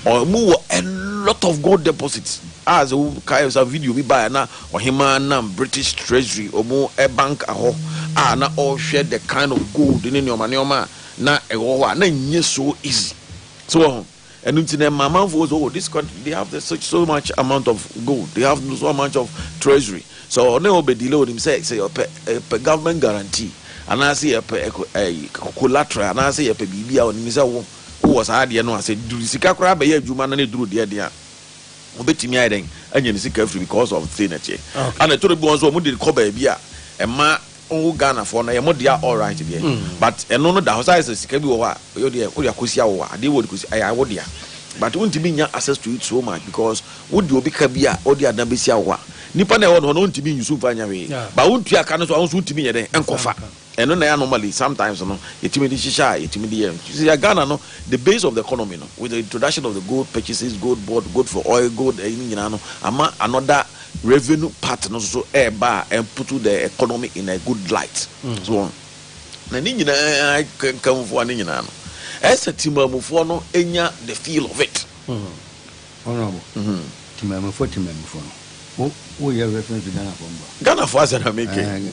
ɔmu wɔ a lot of gold deposits a sɛ wokae sa video bi baeɛ na ɔhemaa nam British treasury ɔmu bank ahɔ a na ɔhwɛ the kind of gold ne nneɛma nneɛma a na ɛwɔ hɔ a na nyɛ so easy so wɔ ho Ɛno nti na ɛma amanfoɔ sɛ oh this country they have the such so much amount of gold they have so much of treasury sɛ ɔne ɔbɛdi lɛ onim sɛ sɛ yɛpɛ yɛpɛ government guarantee anaasɛ yɛpɛ ɛkɔ ɛyi collateral anaasɛ yɛpɛ biribi a onim sɛ wo wowɔ saa adeɛ no a sɛ duru sika koraa bɛyɛ adwuma na ne duru deɛ deɛ a obetumi ayɛ dɛn anya ne sika afiri because of the thing ɛteɛ Okay. ana ɛtɔ da bi wɔn nso wɔn de kɔ baabi a ɛma Oh Ghana foɔ no ɛyɛ mo dea alright deɛ but ɛno no da hɔ sɛ ayɛ sɛ sika bi wɔ hɔ a ɛyɛ deɛ wode akɔsi awo a adeɛ wɔ de kɔsi ɛyɛ wo dea but wontumi nya access to it so much because wode obi ka bi a ɔde adan bɛsi awo a nipa na ɛwɔ no hɔ no ɔntumi nyi so mfa nyɛ hwee but wontua ka no so a wonso wontumi nyɛ dɛn nkɔfa ɛno na ɛyɛ anomaly sometimes no yɛtumi de hyehyɛ a yɛtumi de yɛ nti sɛ Ghana no the base of the economy no with the introduction of the gold purchases gold board gold for oil gold ɛyi no nyinaa no ama another Revenue part no nso ɛɛba a and put the economy in a good light so wɔn na ne nyinaa kankanfoɔ a ne nyinaa no ɛsɛ timamufoɔ no nya the feel of it. Honourable, timamufoɔ timamufoɔ no wo wo yɛ reference to Ghanafoɔ mboa. Ghanafoɔ asɛm na mekɛ.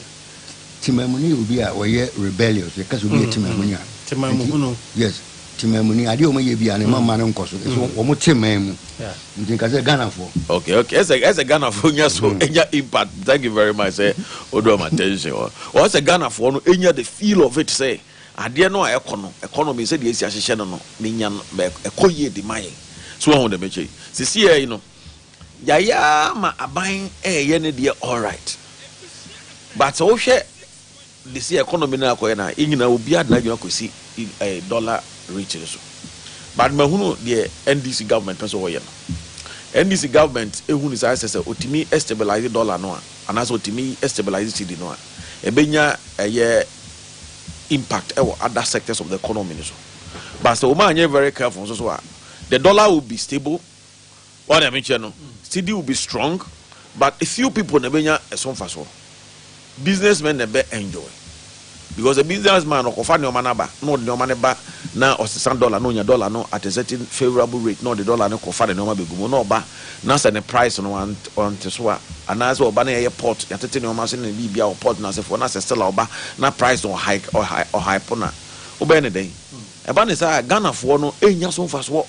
Temamuni yɛ obi a ɔyɛ rebellious. Yɛka sɛ obi yɛ temamuni a. Temamhunu. Yes, temamuni. Adeɛ a wɔyɛ bi a ne ma mma no nkɔ so. Ɛsɛ wɔn te man mu. Nti nka sɛ Ghanafoɔ. Okay, okay. Ɛsɛ ɛsɛ Ghanafoɔ nya so nya impact. Thank you very much sɛ o do wɔn attention wɔ. Wɔn sɛ Ghanafoɔ no nya the feel of it sɛ adeɛ no a ɛkɔ no economy sɛ deɛ esi ahyehyɛ no no ne nya no ɛkɔ yie de ma yɛn. So wɔn ho dɛm ɛkyɛ yi. Sisi yɛ yi no. Yayɛ ara ma aban reyɛ ne deɛ alright but wohwɛ de si economy no akɔyɛ no a yɛn nyinaa obiara de n'adwene akɔsi eh, dollar rate no so but mahunu deɛ NDC government pɛ sɛ wɔyɛ no NDC government ehunu saa sɛ sɛ otumi stabilize dollar no a anaasɛ otumi stabilize cedi no a ɛbɛnya ɛyɛ impact ɛwɔ other sectors of the economy no so but sɛ wɔn anyɛ very careful nso so a the dollar will be stable Wo a Nyame kyɛ no, steady will be strong but a few people na ɛbɛnya ɛso mfasoɔ. Business men na ɛbɛ enjoy because a business man ɔkɔfa nnoɔma no aba na ɔde nnoɔma no ba na ɔsesa dollar na ɔnya dollar no at a certain favorable rate na ɔde dollar no kɔfa ne nnoɔma bɛgu mu na ɔba na sɛ ne price no ɔnte so a anaasɛ ɔba na yɛyɛ pot yɛatete nnoɔma ase ne biribia wɔ pot no ase foɔ na sɛ still a ɔba na price no ɔhype no a wobɛyɛ ne dɛn? Ɛba ne saa a Ghanafoɔ no ɛnnya so mfasoɔ.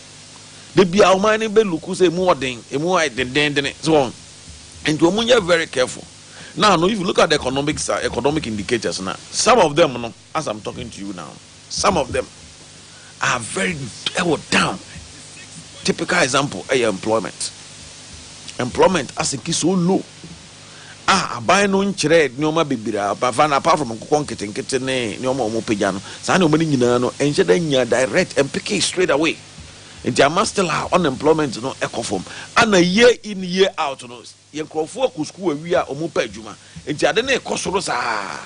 Da biara wɔn ayɛ no bɛ luku sɛ emu wɔ den, emu ayɛ dendenndene, so wɔn. Nti wɔn nyɛ very careful. Now no, if you look at the economic side, economic indicators na, some of them no, as I'm talking to you now no, some of them are very ɛwɔ down. Typical example ɛyɛ employment. Employment asinki so low. a aban no nkyerɛɛ nnoɔma bebree a wɔfa no apart from nkokɔ nketenkete ne nnoɔma a wɔpagya no, saa nnoɔma no nyinaa no ɛnhyɛ da nnya direct and pick it straight away nti ama still a unemployment no kɔ fam ana year in year out no yɛn nkorɔfoɔ kɔ sukuu awie a wɔpɛ adwuma nti ade no rekɔ soro saa.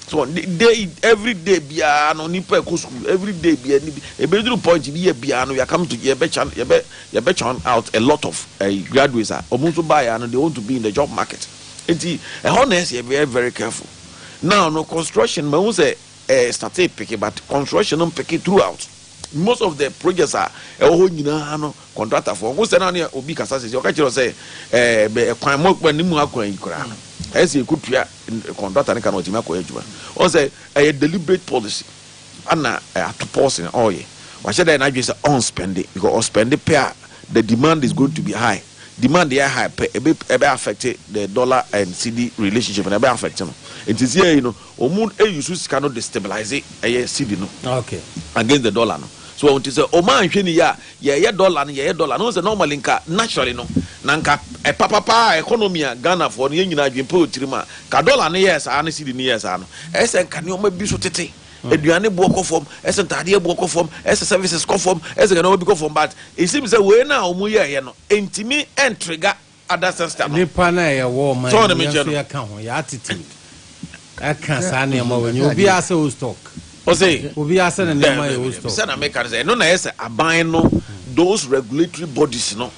So de day every day biara no nipa ɛkɔ school every day biara ni bi ebe duru point bi yɛ biara no yakam to yɛbɛ chan yɛbɛ yɛbɛ chan out a lot of uh, graduates a wɔn nso baa yɛ ano they want to be in the job market nti ɛhɔ na ɛsɛ yɛ very very careful now no construction ma n sɛ ɛɛ eh, start peke but construction no peke throughout most of the projects a ɛwɔ hɔ nyinaa no contractor fo ɔko sɛ na ne obi kasa sɛ ɔka kyerɛ sɛ ɛɛ bɛ ɛkwan mo ɛkwan ne mu akwan yi koraa no ɛsɛ yɛ kutua. Kɔntrata no ka no ɔtumi akɔyɛ adwuma. Ɔn sɛ ɛyɛ deliberate policy ana ato pɔs na ɔyɛ. Wahyɛ da yɛ n'adwene sɛ ɔn spɛnde because ɔ spɛnde pɛ a the demand is going to be high. Demand yɛ high pɛ ɛbɛ ɛbɛ affect the dollar and cedi relationship no ɛbɛ affect no. Nti sesie yi no ɔmo use sika no de stabilize ɛyɛ cedi no against the dollar no. So ɔn nti sɛ ɔmo anhwɛ ni yɛ a. Yɛyɛ dollar no yɛyɛ dollar no wohu sɛ normally nka naturally no na nka papa paa a economy a Ghanafoɔ no yɛn nyinaa adwene pa wɔ tirim a nka dollar no yɛɛ saa ne cedi no yɛɛ saa no ɛyɛ sɛ nka nneɛma bi so tete aduane boɔ kɔ fam ɛyɛ sɛ ntaadeɛ boɔ kɔ fam ɛyɛ sɛ services kɔ fam ɛyɛ sɛ nka nneɛma bi kɔ fam but it seems sɛ wei no a wɔn yɛɛyɛ no ɛntumi ɛntrigger other sister no. Nnipa no a yɛwɔ ɔman yi mu, yɛn nso yɛka ho, yɛn attitude ɛka saa nneɛma wei nyɛ. Obiara sɛ old stock. Ɔse, Obiara sɛ ne nneɛma yɛ old stock. Sɛ na meka no sɛ, ɛno na ɛyɛ sɛ aban no, those regulatory bodies no,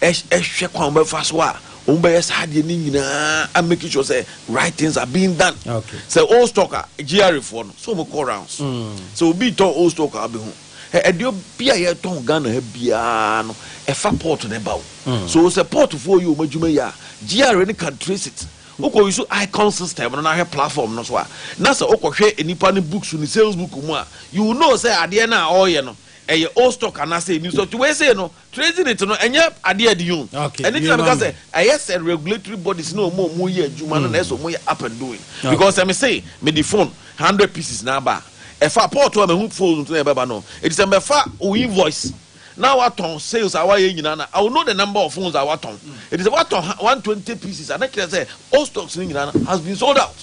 ɛhwɛ kwan a wɔbɛfa so a wɔbɛyɛ saa adeɛ no nyinaa a make sure sɛ right things are being done. Sɛ old stock a, GRA foɔ no, sɛ wɔkɔ rounds, sɛ obi retɔ old stock a, wobɛhu. Ɛ ɛdeɛ bi a yɛtɔn Ghana ha biara no, ɛfa port na ɛba o. Mm. So sɛ portfoɔ yɛ wɔn adwuma yi a, GRA no can trace it. Wokɔ use icon system no na ahwɛ platform no so a, na sɛ wokɔhwɛ nipa no books ne sales book mu a, you will know sɛ adeɛ no a ɔreyɛ no, ɛyɛ old stock anaasɛ new stock. Nti wei sei no, Trezinit no ɛnyɛ adeɛ ɛde yun ɛne ti na mi ka sɛ ɛyɛ sɛ regulatory bodies na ɔmo ɔmo yɛ adwuma no na ɛsɛ ɔmo yɛ up and doing because ɛmi se mi di phone hundred pieces na aba ɛfa port a mi hu phone na ɛbɛba no eti sɛ mbɛfa o invoice na awa tɔn sales awa yɛ nyinaa na I will know the number of phones awa tɔn eti sɛ wa tɔn one twenty pieces ana kyerɛ sɛ all stocks ni nyinaa has been sold out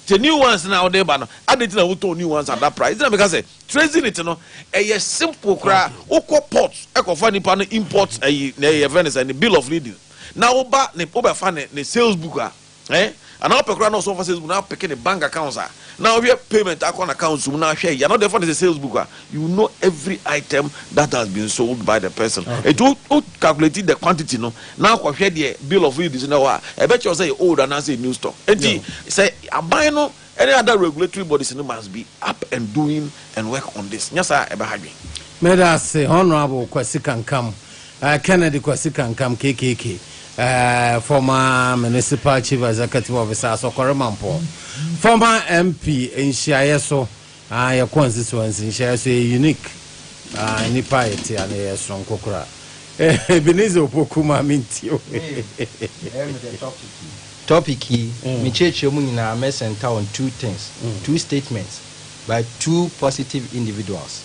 te new ones na ɔde ba no adi ti na wo tɔn new ones at that price eti na mi ka sɛ. Trezynit no ɛyɛ simple koraa wokɔ port ɛkɔfa nipa no import ɛyi na ɛyɛ yɛfrɛ no sɛ ne bill of lading na woba ne wobɛfa ne ne sales book a ɛɛ anaa wopɛ koraa na ɔsɛ ɔfa sales book na apeke ne bank accounts a na wohwɛ payment akɔ na accounts mu na ahwɛ ɛyi anaa ɔde ɛfa ne sɛ sales book a you will know every item that has been sold by the person ɛti wo wo calculate the quantity no na akɔhwɛ deɛ bill of lading so na ɛwɔ a ɛbɛkyerɛ sɛ yɛ old anaa sɛ yɛ new stock ɛti sɛ aban no. Any other regulatory bodies no must be up and doing and work on this, nyɛ saa a ɛbɛha adwene. Meda ase Honourable Kwasi Kankam, eh, Kennedy Kwasi Kankam, KKK, eh, former Municipal Chief Executive Officer, Asɔkɔre Mampong, former MP, nhyiaeɛ so. Aah yɛkɔ nsesoɔ nse nhyɛɛ so yɛ unique aah nnipa a yɛte ha no yɛyɛ soronko koraa eh Ebenezer Opoku maame nti o eh. Topic yi, me kyerɛkyerɛ mu nyinaa mɛ center on two things, two statements by two positive individuals.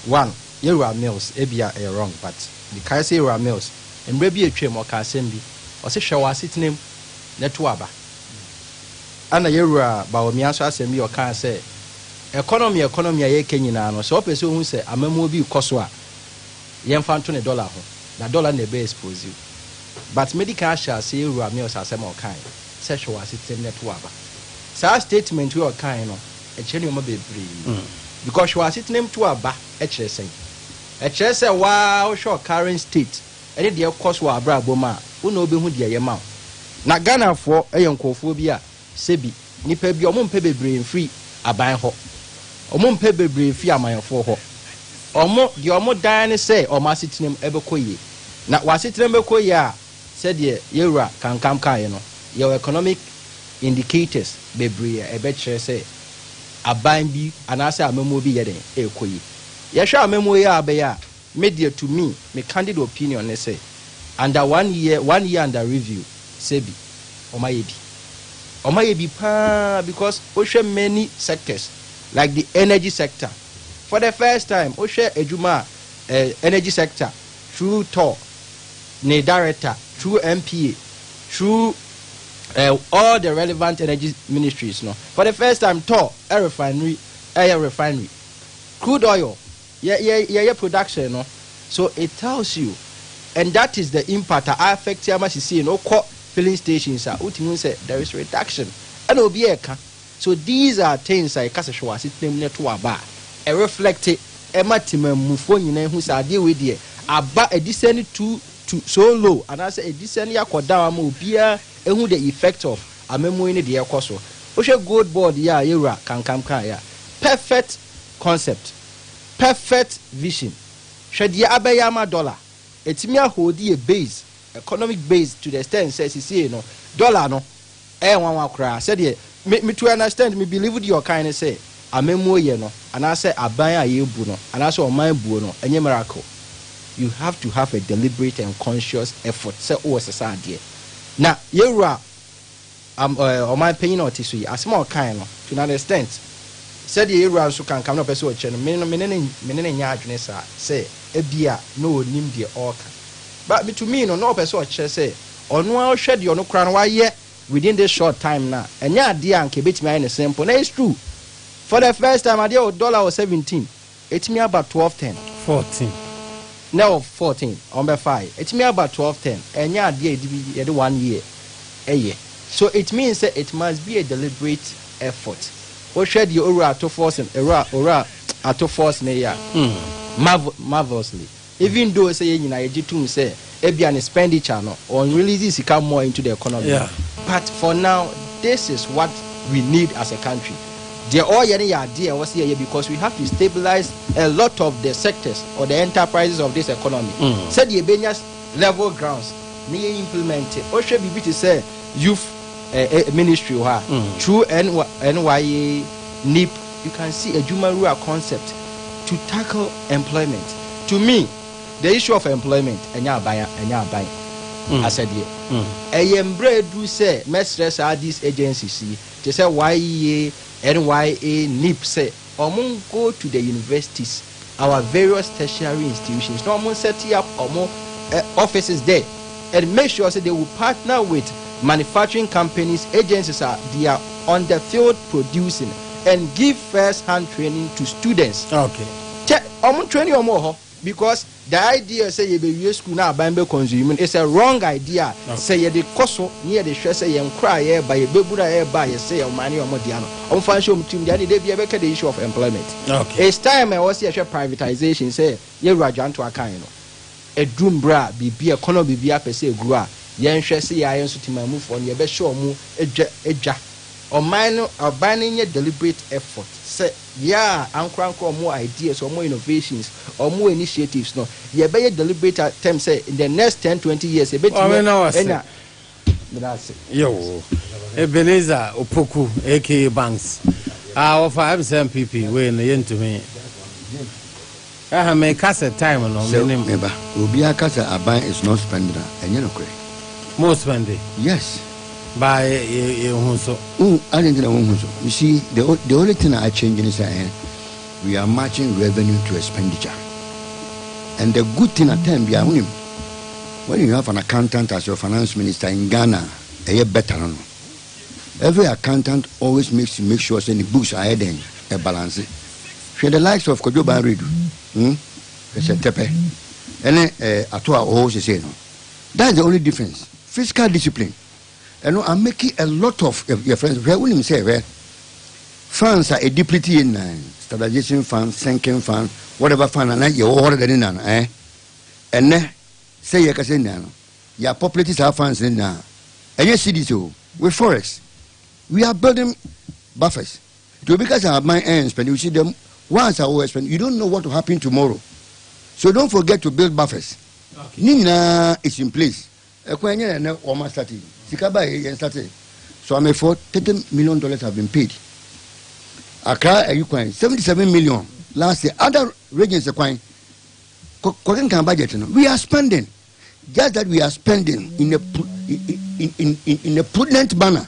One, Yɛwura Mills, ebia ɛyɛ wrong but mekae sɛ Yɛwura Mills mmerɛ bi atwam ɔkaa asɛm bi, ɔse hwɛ w'asetena mu na tu aba. Ana yɛ wura Bawumia nso asɛm bi ɔkaa sɛ economy economy a yɛka nyinaa no sɛ ɔpɛ sɛ ohu sɛ amamuo bi rekɔ so a yɛnfa nto ne dollar ho na dollar na ɛbɛ expose wo but mɛdi kan ahyɛ ase yɛ wura Mills asɛm a ɔkae sɛ hwɛ w'asetenam na to w'aba saa statement wei a ɔkae no ɛkyerɛ nneɛma bebree because hwɛ w'asetenam to w'aba ɛkyerɛ sɛn ɛkyerɛ sɛ waa wohwɛ ɔcurrent state ɛne deɛ ɛkɔ so wɔ abrabɔ mu a, wo na wobɛhu deɛ ɛyɛ ma wo. Na Ghanafoɔ yɛ nkorɔfoɔ bi a sɛbi nnipa bi a wɔn mpɛ bebree mfiri aban hɔ, wɔn mpɛ bebree mfiri amanfoɔ hɔ, wɔn deɛ wɔn dan ne sɛ wɔn asetena mu ɛbɛkɔ yie. Na w'asetena mu bɛkɔ yie a, sɛdeɛ Yɛwura Kankam kaeɛ no, yɛwɔ economic indicators bebree a ɛbɛkyerɛ sɛ aban bi anaasɛ amammuo bi yɛ dɛn ɛrekɔ yie. Yɛhwɛ amammuo yi ara bɛyɛ a. Me deɛ to me, me candid opinion ne sɛ under one year, one year under review sɛ bi, wɔn ayɛ bi. Wɔn ayɛ bi paa because wo hwɛ many sectors like the energy sector for the first time wo hwɛ adwuma a eh, energy sector through tor ne director through MPA through eh, all the relevant energy ministries no for the first time tor eh, refinery ɛyɛ eh, refinery crude oil Yɛ yɛ yɛ yɛ production no so it tells you and that is the impact a affect ama sisii no wokɔ filling stations a wotumi hu sɛ there is reduction ɛna obi ɛka so these are things a yɛka sɛ hwɛ w'asetena mu na ɛto aba a ɛreflect ɛma temanmufoɔ nyinaa hu sɛ adeɛ wei deɛ aba adisɛn to to so low anaasɛ adisɛn yɛ akɔ down ama obiara ɛhu the effect of amamuo yi ne deɛ ɛkɔ so wohwɛ gold board yi a yɛwura kankam kaeɛ a perfect Concept, Perfect vision, Hwɛ deɛ abɛyɛ ama dollar, ɛtumi a holdi yɛ base, economic base to the extent sɛ sesiei no dollar no ɛyɛ nwanwa koraa sɛdeɛ me me to an extent me believe deɛ ɔkan ne sɛ amammuo yɛ no anaasɛ aban a yɛbu no anaasɛ ɔman buo no ɛnyɛ miracle you have to have a deliberate and conscious effort sɛ wowɔ sesa adeɛ na yɛwura Am ɛ ɔman panyin a ɔte so yi, asɛm a ɔkae no, to an extent, sɛdeɛ yɛn wura nso ka nka me na ɔpɛ sɛ ɔkyerɛ no, me no, me ne no, me ne no nyɛ adwene saa sɛ ebia na ɔnnim deɛ ɔreka. But me to me no, na ɔpɛ sɛ ɔkyerɛ sɛ ɔno ara ɔhwɛ deɛ ɔno koraa no wayɛ within this short time no a, ɛnyɛ adeɛ a anka ɛbɛtumi ayɛ no simple. Na it's true, for the first time, adeɛ wɔ dollar wɔ seventeen, Etumi aba twelve ten. Fourteen. Nɛ ɔwɔ fourteen ɔmo bɛ faa yɛ. Etumi aba twelve ten. Ɛnyɛ adeɛ yɛde bi yɛde one year ɛyɛ. So it means sɛ it must be a deliberate effort. Wohwɛ deɛ Owura Atofors, Owura Owura Atofors ne yɛ a, marvel marvelously. Even though sɛ yɛn nyinaa yɛgye tom sɛ ebia ne spenditure no ɔn release sika more into the economy no but for now this is what we need as a country deɛ ɔyɛ no yɛ adeɛ a ɛwɔ sɛ yɛyɛ because we have to stabilize a lot of the sectors or the enterprises of this economy sɛdeɛ ɛbɛnya level grounds na yɛ implement wohwɛ biribi te sɛ youth eh, eh, ministry wɔ hɔ a through NY, NYA NIP You can see Adwumawura concept to tackle employment. To me, the issue of employment ɛnyɛ aban ɛnyɛ aban asɛdeɛ. Ɛyɛ mbrɛ aduru sɛ mɛsrɛ saa these agencies yi te sɛ YEA, NYA, NIPP sɛ wɔn go to the universities. our various tertiary institutions na wɔn set up wɔn eh, offices there and make sure say they will partner with manufacturing companies agencies a they are on the field producing and give first hand training to students. Okay. Kyɛ wɔn training wɔn wɔ hɔ because the idea sɛ yɛbɛwie school na aban bɛ consume no is a wrong idea a sɛ yɛde kɔ so ne yɛde hwɛ sɛ yɛn kora a yɛreba yɛbɛbunu a ɛreba a yɛsɛ yɛ wɔn ne wɔn dea no ɔmfa nhyɛ wɔn tirim deɛ ɛne da bi ɛbɛka the issue of employment okay. it's time ɛwɔ sɛ yɛhwɛ privatization sɛ yɛwura adwanto akan no ɛduru mbrɛ a biribi ɛkɔnɔ biribi apɛ sɛ ɛguru a yɛnhwɛ sɛ yɛayɛ nso timamufoɔ no yɛbɛhyɛ ɔmo adwa adwa ɔman no ɔban no nyɛ deliberate effort sɛ yɛ a ankorankora ɔmo ideas ɔmo innovations ɔmo initiatives no yɛbɛyɛ deliberate attempt sɛ in the next ten twenty years ɛbɛtumi ɛna Meda ase. Yow. Ebenezer Opoku aka Banks a wɔfa MCMPP wei no yɛntumi. Ɛha me ka sɛ time no Sɛ menim. me ba, obiara ka sɛ aban is not spending a, ɛnyɛ nokorɛ. Mo spɛnde Yes. baa yɛ yɛ yɛnhu so. Wohu adɛn nti na wonhu so? You see, the, o- the only thing a achange ne sɛ ɛɛ, We are matching revenue to expenditure and the good thing at time biara wonim when you have an accountant as your finance minister in Ghana ɛyɛ better no no every accountant always makes to make sure sɛ ne books ayɛ dɛn ɛbalance hwɛ the likes of Kwadwo Ban Redu hmm hwɛ sɛ tɛpɛ ɛne eh, ato a ɔwɔ sesei no that's the only difference fiscal discipline Ɛno a make a lot of your friends hwɛ wonim sɛ hwɛ fans a ɛdi pretty yɛ nnan standardization fan sinking fan whatever fan a na yɛwɔ hɔ dada ne nnan eh ɛnɛ sɛ yɛ kasa nnan no yɛ apopulate saa fans ne nnan ɛnyɛ cities o with forex we are building buffers nti obi kasa aban ɛn spend you see them once a wɔ spend you don't know what will happen tomorrow so don't forget to build buffers ne nyinaa is in place Ɛkwan nyɛ na nɛ wɔma starte yi. Sika ba yɛ yɛn starte so amɛfoɔ thirty million dollars have been paid Accra ayi kwan seventy seven million last year other regions kwan kɔ kɔkenkan budget no we are spending just that we are spending in a in in in a prudent manner.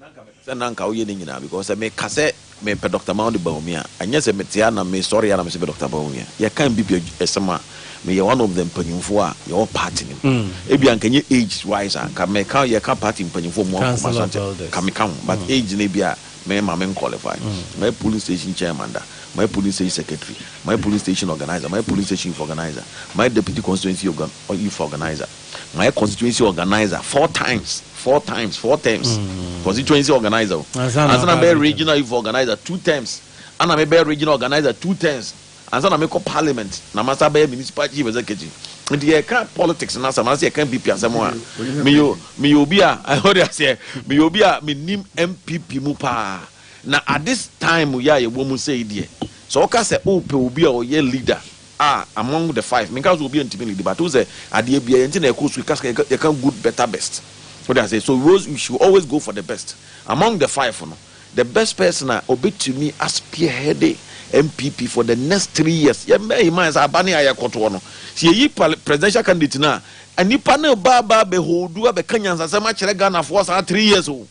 Na nka mepɛ sɛ na nka woyɛ ne nyinaa because sɛ meka sɛ mepɛ Doctor Mauni Bawumia a, ɛnyɛ sɛ mete ha na mesɔre a na mese mepɛ Doctor Bawumia. Yɛka Mbibia asɛm a, meyɛ one of the mpanyimfoɔ a yɛwɔ party no mu. Ebia anka ɛnyɛ age wise a, nka meka yɛka party mpanyimfoɔ mmoa nkɔma so ankyɛ, nka meka ho but age no ebia me ma me nqualify. Mayɛ polling station chairman da, mayɛ polling station secretary, mayɛ polling station organiser, mayɛ polling station youth organiser, mayɛ deputy constituency youth organiser. Mayɛ constituency organiser four times, four times, four terms. Mm. Constituency organiser. Ansa na mɛyɛ regional youth organiser two terms. Ana mebɛyɛ regional organiser two terms. Ansa na mekɔ parliament na masa bɛyɛ municipal chief executive. Nti yɛka politics no asɛm anasɛ yɛka NPP asɛm a meyɛ meyɛ obi a ɔde aseɛ meyɛ obi a menim NPP mu paa na at this time yɛ a yɛwɔ mu sɛ yi deɛ sɛ ɔka sɛ wopɛ obi a ɔyɛ leader Ah among the five menka sɛ obia ntimi lead but wohu sɛ adeɛ bia yɛnte na ɛkɔ su yɛka sika yɛka good better best wode aseɛ so we always we should always go for the best among the five no the best person a ɔbɛtumi a spearheade NPP for the next three years yɛ bear in mind sɛ aba ne a yɛkɔtoɔ no sɛ yɛyi pal presidential candidate no a nnipa no reba aba abɛholdu abɛka nyansasɛm akyerɛ Ghanafoɔ saa three years o.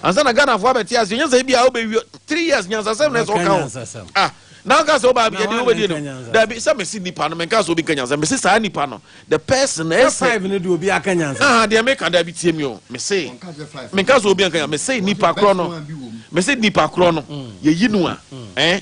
Ansa na Ghana fo abɛte ase nyansa yi bi a wobɛ wie three years nyansasɛm na ɛsɛ ɔka ho ah na ɔka sɛ ɔba abɛyɛ de wobɛ di anim dabi sɛ mesi nipa no menka sɛ obi nka nyansa mesi saa nipa no the person na ɛsɛ five no de obi aka nyansa ah deɛ meka dabi tie mi o mesi menka sɛ obi nka nyansa mesi nipa korɔ no mesi nipa korɔ no yɛyi no a ɛn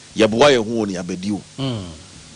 Yɛboa yɛn ho wɔ nea bɛdi o.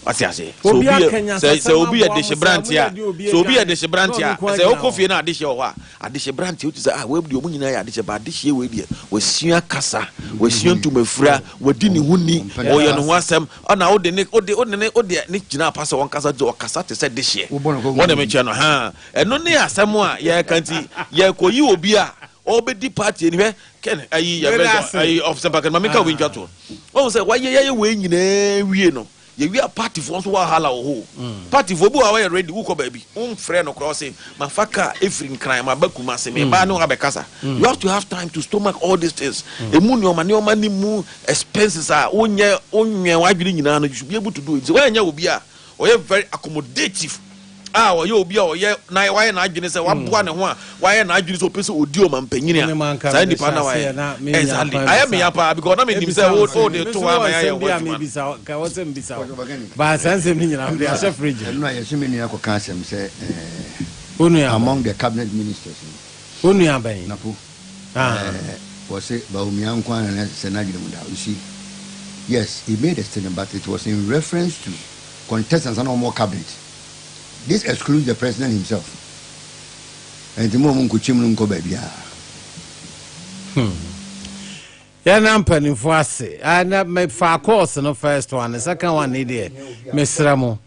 Wate aseɛ? Sɛ obi yɛ sɛ sɛ obi yɛ dehyebranteɛ a, sɛ obi yɛ dehyebranteɛ a, sɛ wokɔ fie na adehyeɛ wɔ hɔ a, adehyebranteɛ wotu sɛ ah wei deɛ wɔn nyinaa yɛ adehyeɛ ba adehyeɛ wei deɛ wasua kasa, wasua ntumafira, wadi ne ho ni, ɔyɛ ne ho asɛm, ɔna wode ne wode wode ne wode ne gyina apa sɛ ɔnkasa gye ɔkasa te sɛ dehyeɛ. Wɔde me kyɛ no haa. Ɛno ne asɛm a yɛreka nti yɛkɔyi obi a ɔbɛdi party ani hwɛ kɛn ayi yɛbɛ sɛ ayi ɔsɛmpa kɛn maame nka obi ntwa toɔ ɔhu sɛ wayɛ yɛyɛ wei nyinaa wie no yɛwie a partyfoɔ nso wahala wɔ hɔ partyfoɔ bi wɔ a wɔyɛ ready wokɔ baabi womfrɛ no koraa ɔse mafa kaa ɛfiri nkran maba kuma se mebaa ne wabɛkasa you have to have time to stomach all these things ɛmu nneɔma nneɔma ne mu expenses a wonyɛ wonwɛn w'adwene nyinaa no you should be able to do it sɛ woanyɛ obi a ɔyɛ very accommodative a ɔyɛ obi a ɔyɛ na wayɛ n'adwene sɛ waboa ne ho a wayɛ n'adwene sɛ ɔpɛ sɛ ɔdi ɔmampanin a saa nipa na wayɛ exactly ayɛ meya paa because na menim sɛ wo wo de to hɔ ama yɛayɛ ho adwuma no. among the cabinet ministers no. Wo nua bɛn? Napo. Ɛɛ wɔse Bawumia nko ara na ɛsɛ sɛ n'adwene mu da hɔ. You see, yes, he made a statement but it was in reference to contestants a na wɔwɔ cabinet. This excludes the president himself. Ɛnti mo a monkokyem no nkɔ baabiara. Hmm. Yɛna mpanimfoɔ ase. Ɛna mefa course no first one, second one ne deɛ mesrɛ mo.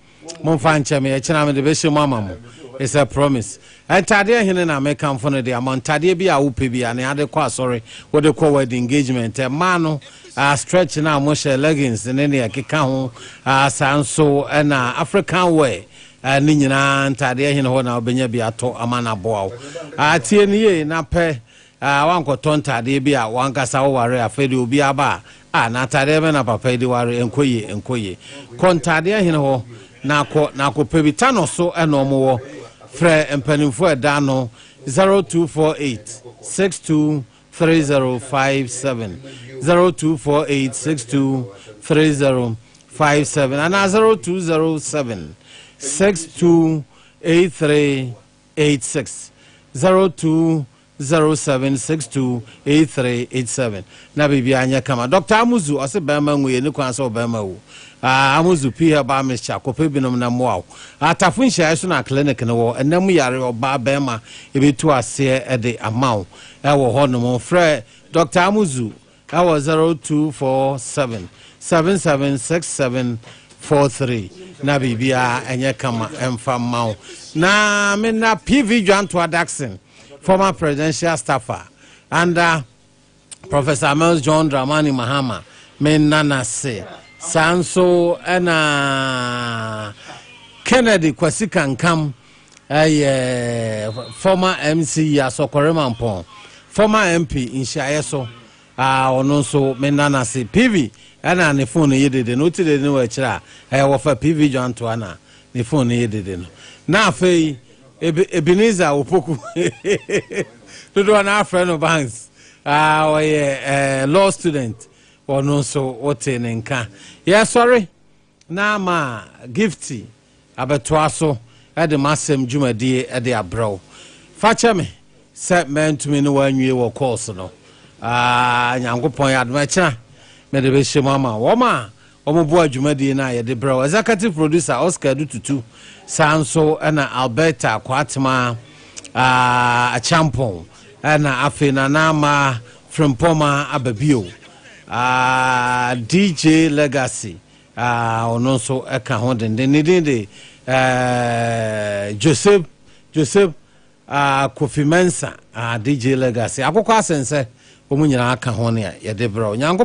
Momfa nkyɛ me, ɛkyena mede bɛhyɛ mu ama mo. It's a promise. Ntadeɛ hene na mekamfo no de ama wo? Ntadeɛ bi a wopɛ biara, nea wode kɔ asɔre, wode kɔ wedding, engagement, mmaa no, ah, stretch no a wɔhyɛ, leggings ne nea ɛkeka ho, ah, saa nso na African wear, ah, ne nyinaa, ntadeɛ hene hɔ na wobɛnya bi atɔ ama no aboa wo. Ah, tie no yie na pɛ Aa wankɔtɔ ntaadeɛ bi a wankasa wo ware afei de obi aba a ah na ataadeɛ bɛn na papa yi de ware ɛnkɔ yie ɛnkɔ yie kɔ ntaadeɛ hene hɔ na kɔ na kɔ pɛ bi ta no so ɛna ɔmo wɔ frɛ mpaninfoɔ ɛda ano zero two four eight six two three zero five seven zero two four eight six two three zero five seven anaa zero two zero seven six two eight three. eight six zero two zero seven six two eight three eight seven na biribiara nyɛ kama Doctor Amuzu ɔse bɛrima nwu yɛ ne kwan sɛ ɔbɛrima wu ah Amuzu pii herbal mixture kɔpɛ binom na mmoa wo atafo nhyiaeɛ so na clinic no wɔ ɛna mu yare ɔbaa bɛrima ɛbɛtu aseɛ ɛde ama wo ɛwɔ hɔ nom frɛ Doctor Amuzu ɛwɔ zero two four seven seven seven six seven four three na biribiara ɛnyɛ kama ɛmfa mma wo na me na pv dwantoa daxon former presidential staffer under professor mels john dramani mahama me nna no ase saa nso ɛna kennedy kwasi kankam ɛyɛ former MC Yaso Koremampong, former MP nhyiaeɛ so a ɔno nso mena no ase. PV ɛna ne phone no yɛ dede no, wote dede no wɔ akyire a ɛyɛ wɔfa PV Dwantoa na ne phone no yɛ dede no. Na afei Ebenezer Opoku dodoɔ no afrɛ no Banks a ɔyɛ law student, ɔno nso wote ne nka. Yɛsɔre na ama Gifty abɛtoa so de m'asɛm dwumadie de abrɛ wo. Fa kyɛ me sɛ mantumi ne wo anwie wɔ course no. Aah, Nyankopɔn yɛ adom a, ɛkyena mede bɛhyɛ mu ama wɔn a wɔboa dwumadie no a yɛde brɛ wo. Executive Producer, Oscar Adu Tutu, saa nso na Alberta Kwaatemaa Acheampong. Ɛna afei Nana ama Frimpoma aba bio. Ah, DJ Legacy, ah, ɔno nso ɛka ho denden. Ne din de eh, Joseph, Joseph ah, Kofi Mensa, ah, DJ Legacy. Akokɔ asensɛ, wɔn nyinaa ka ho nea yɛde brɛ Onyankopɔn.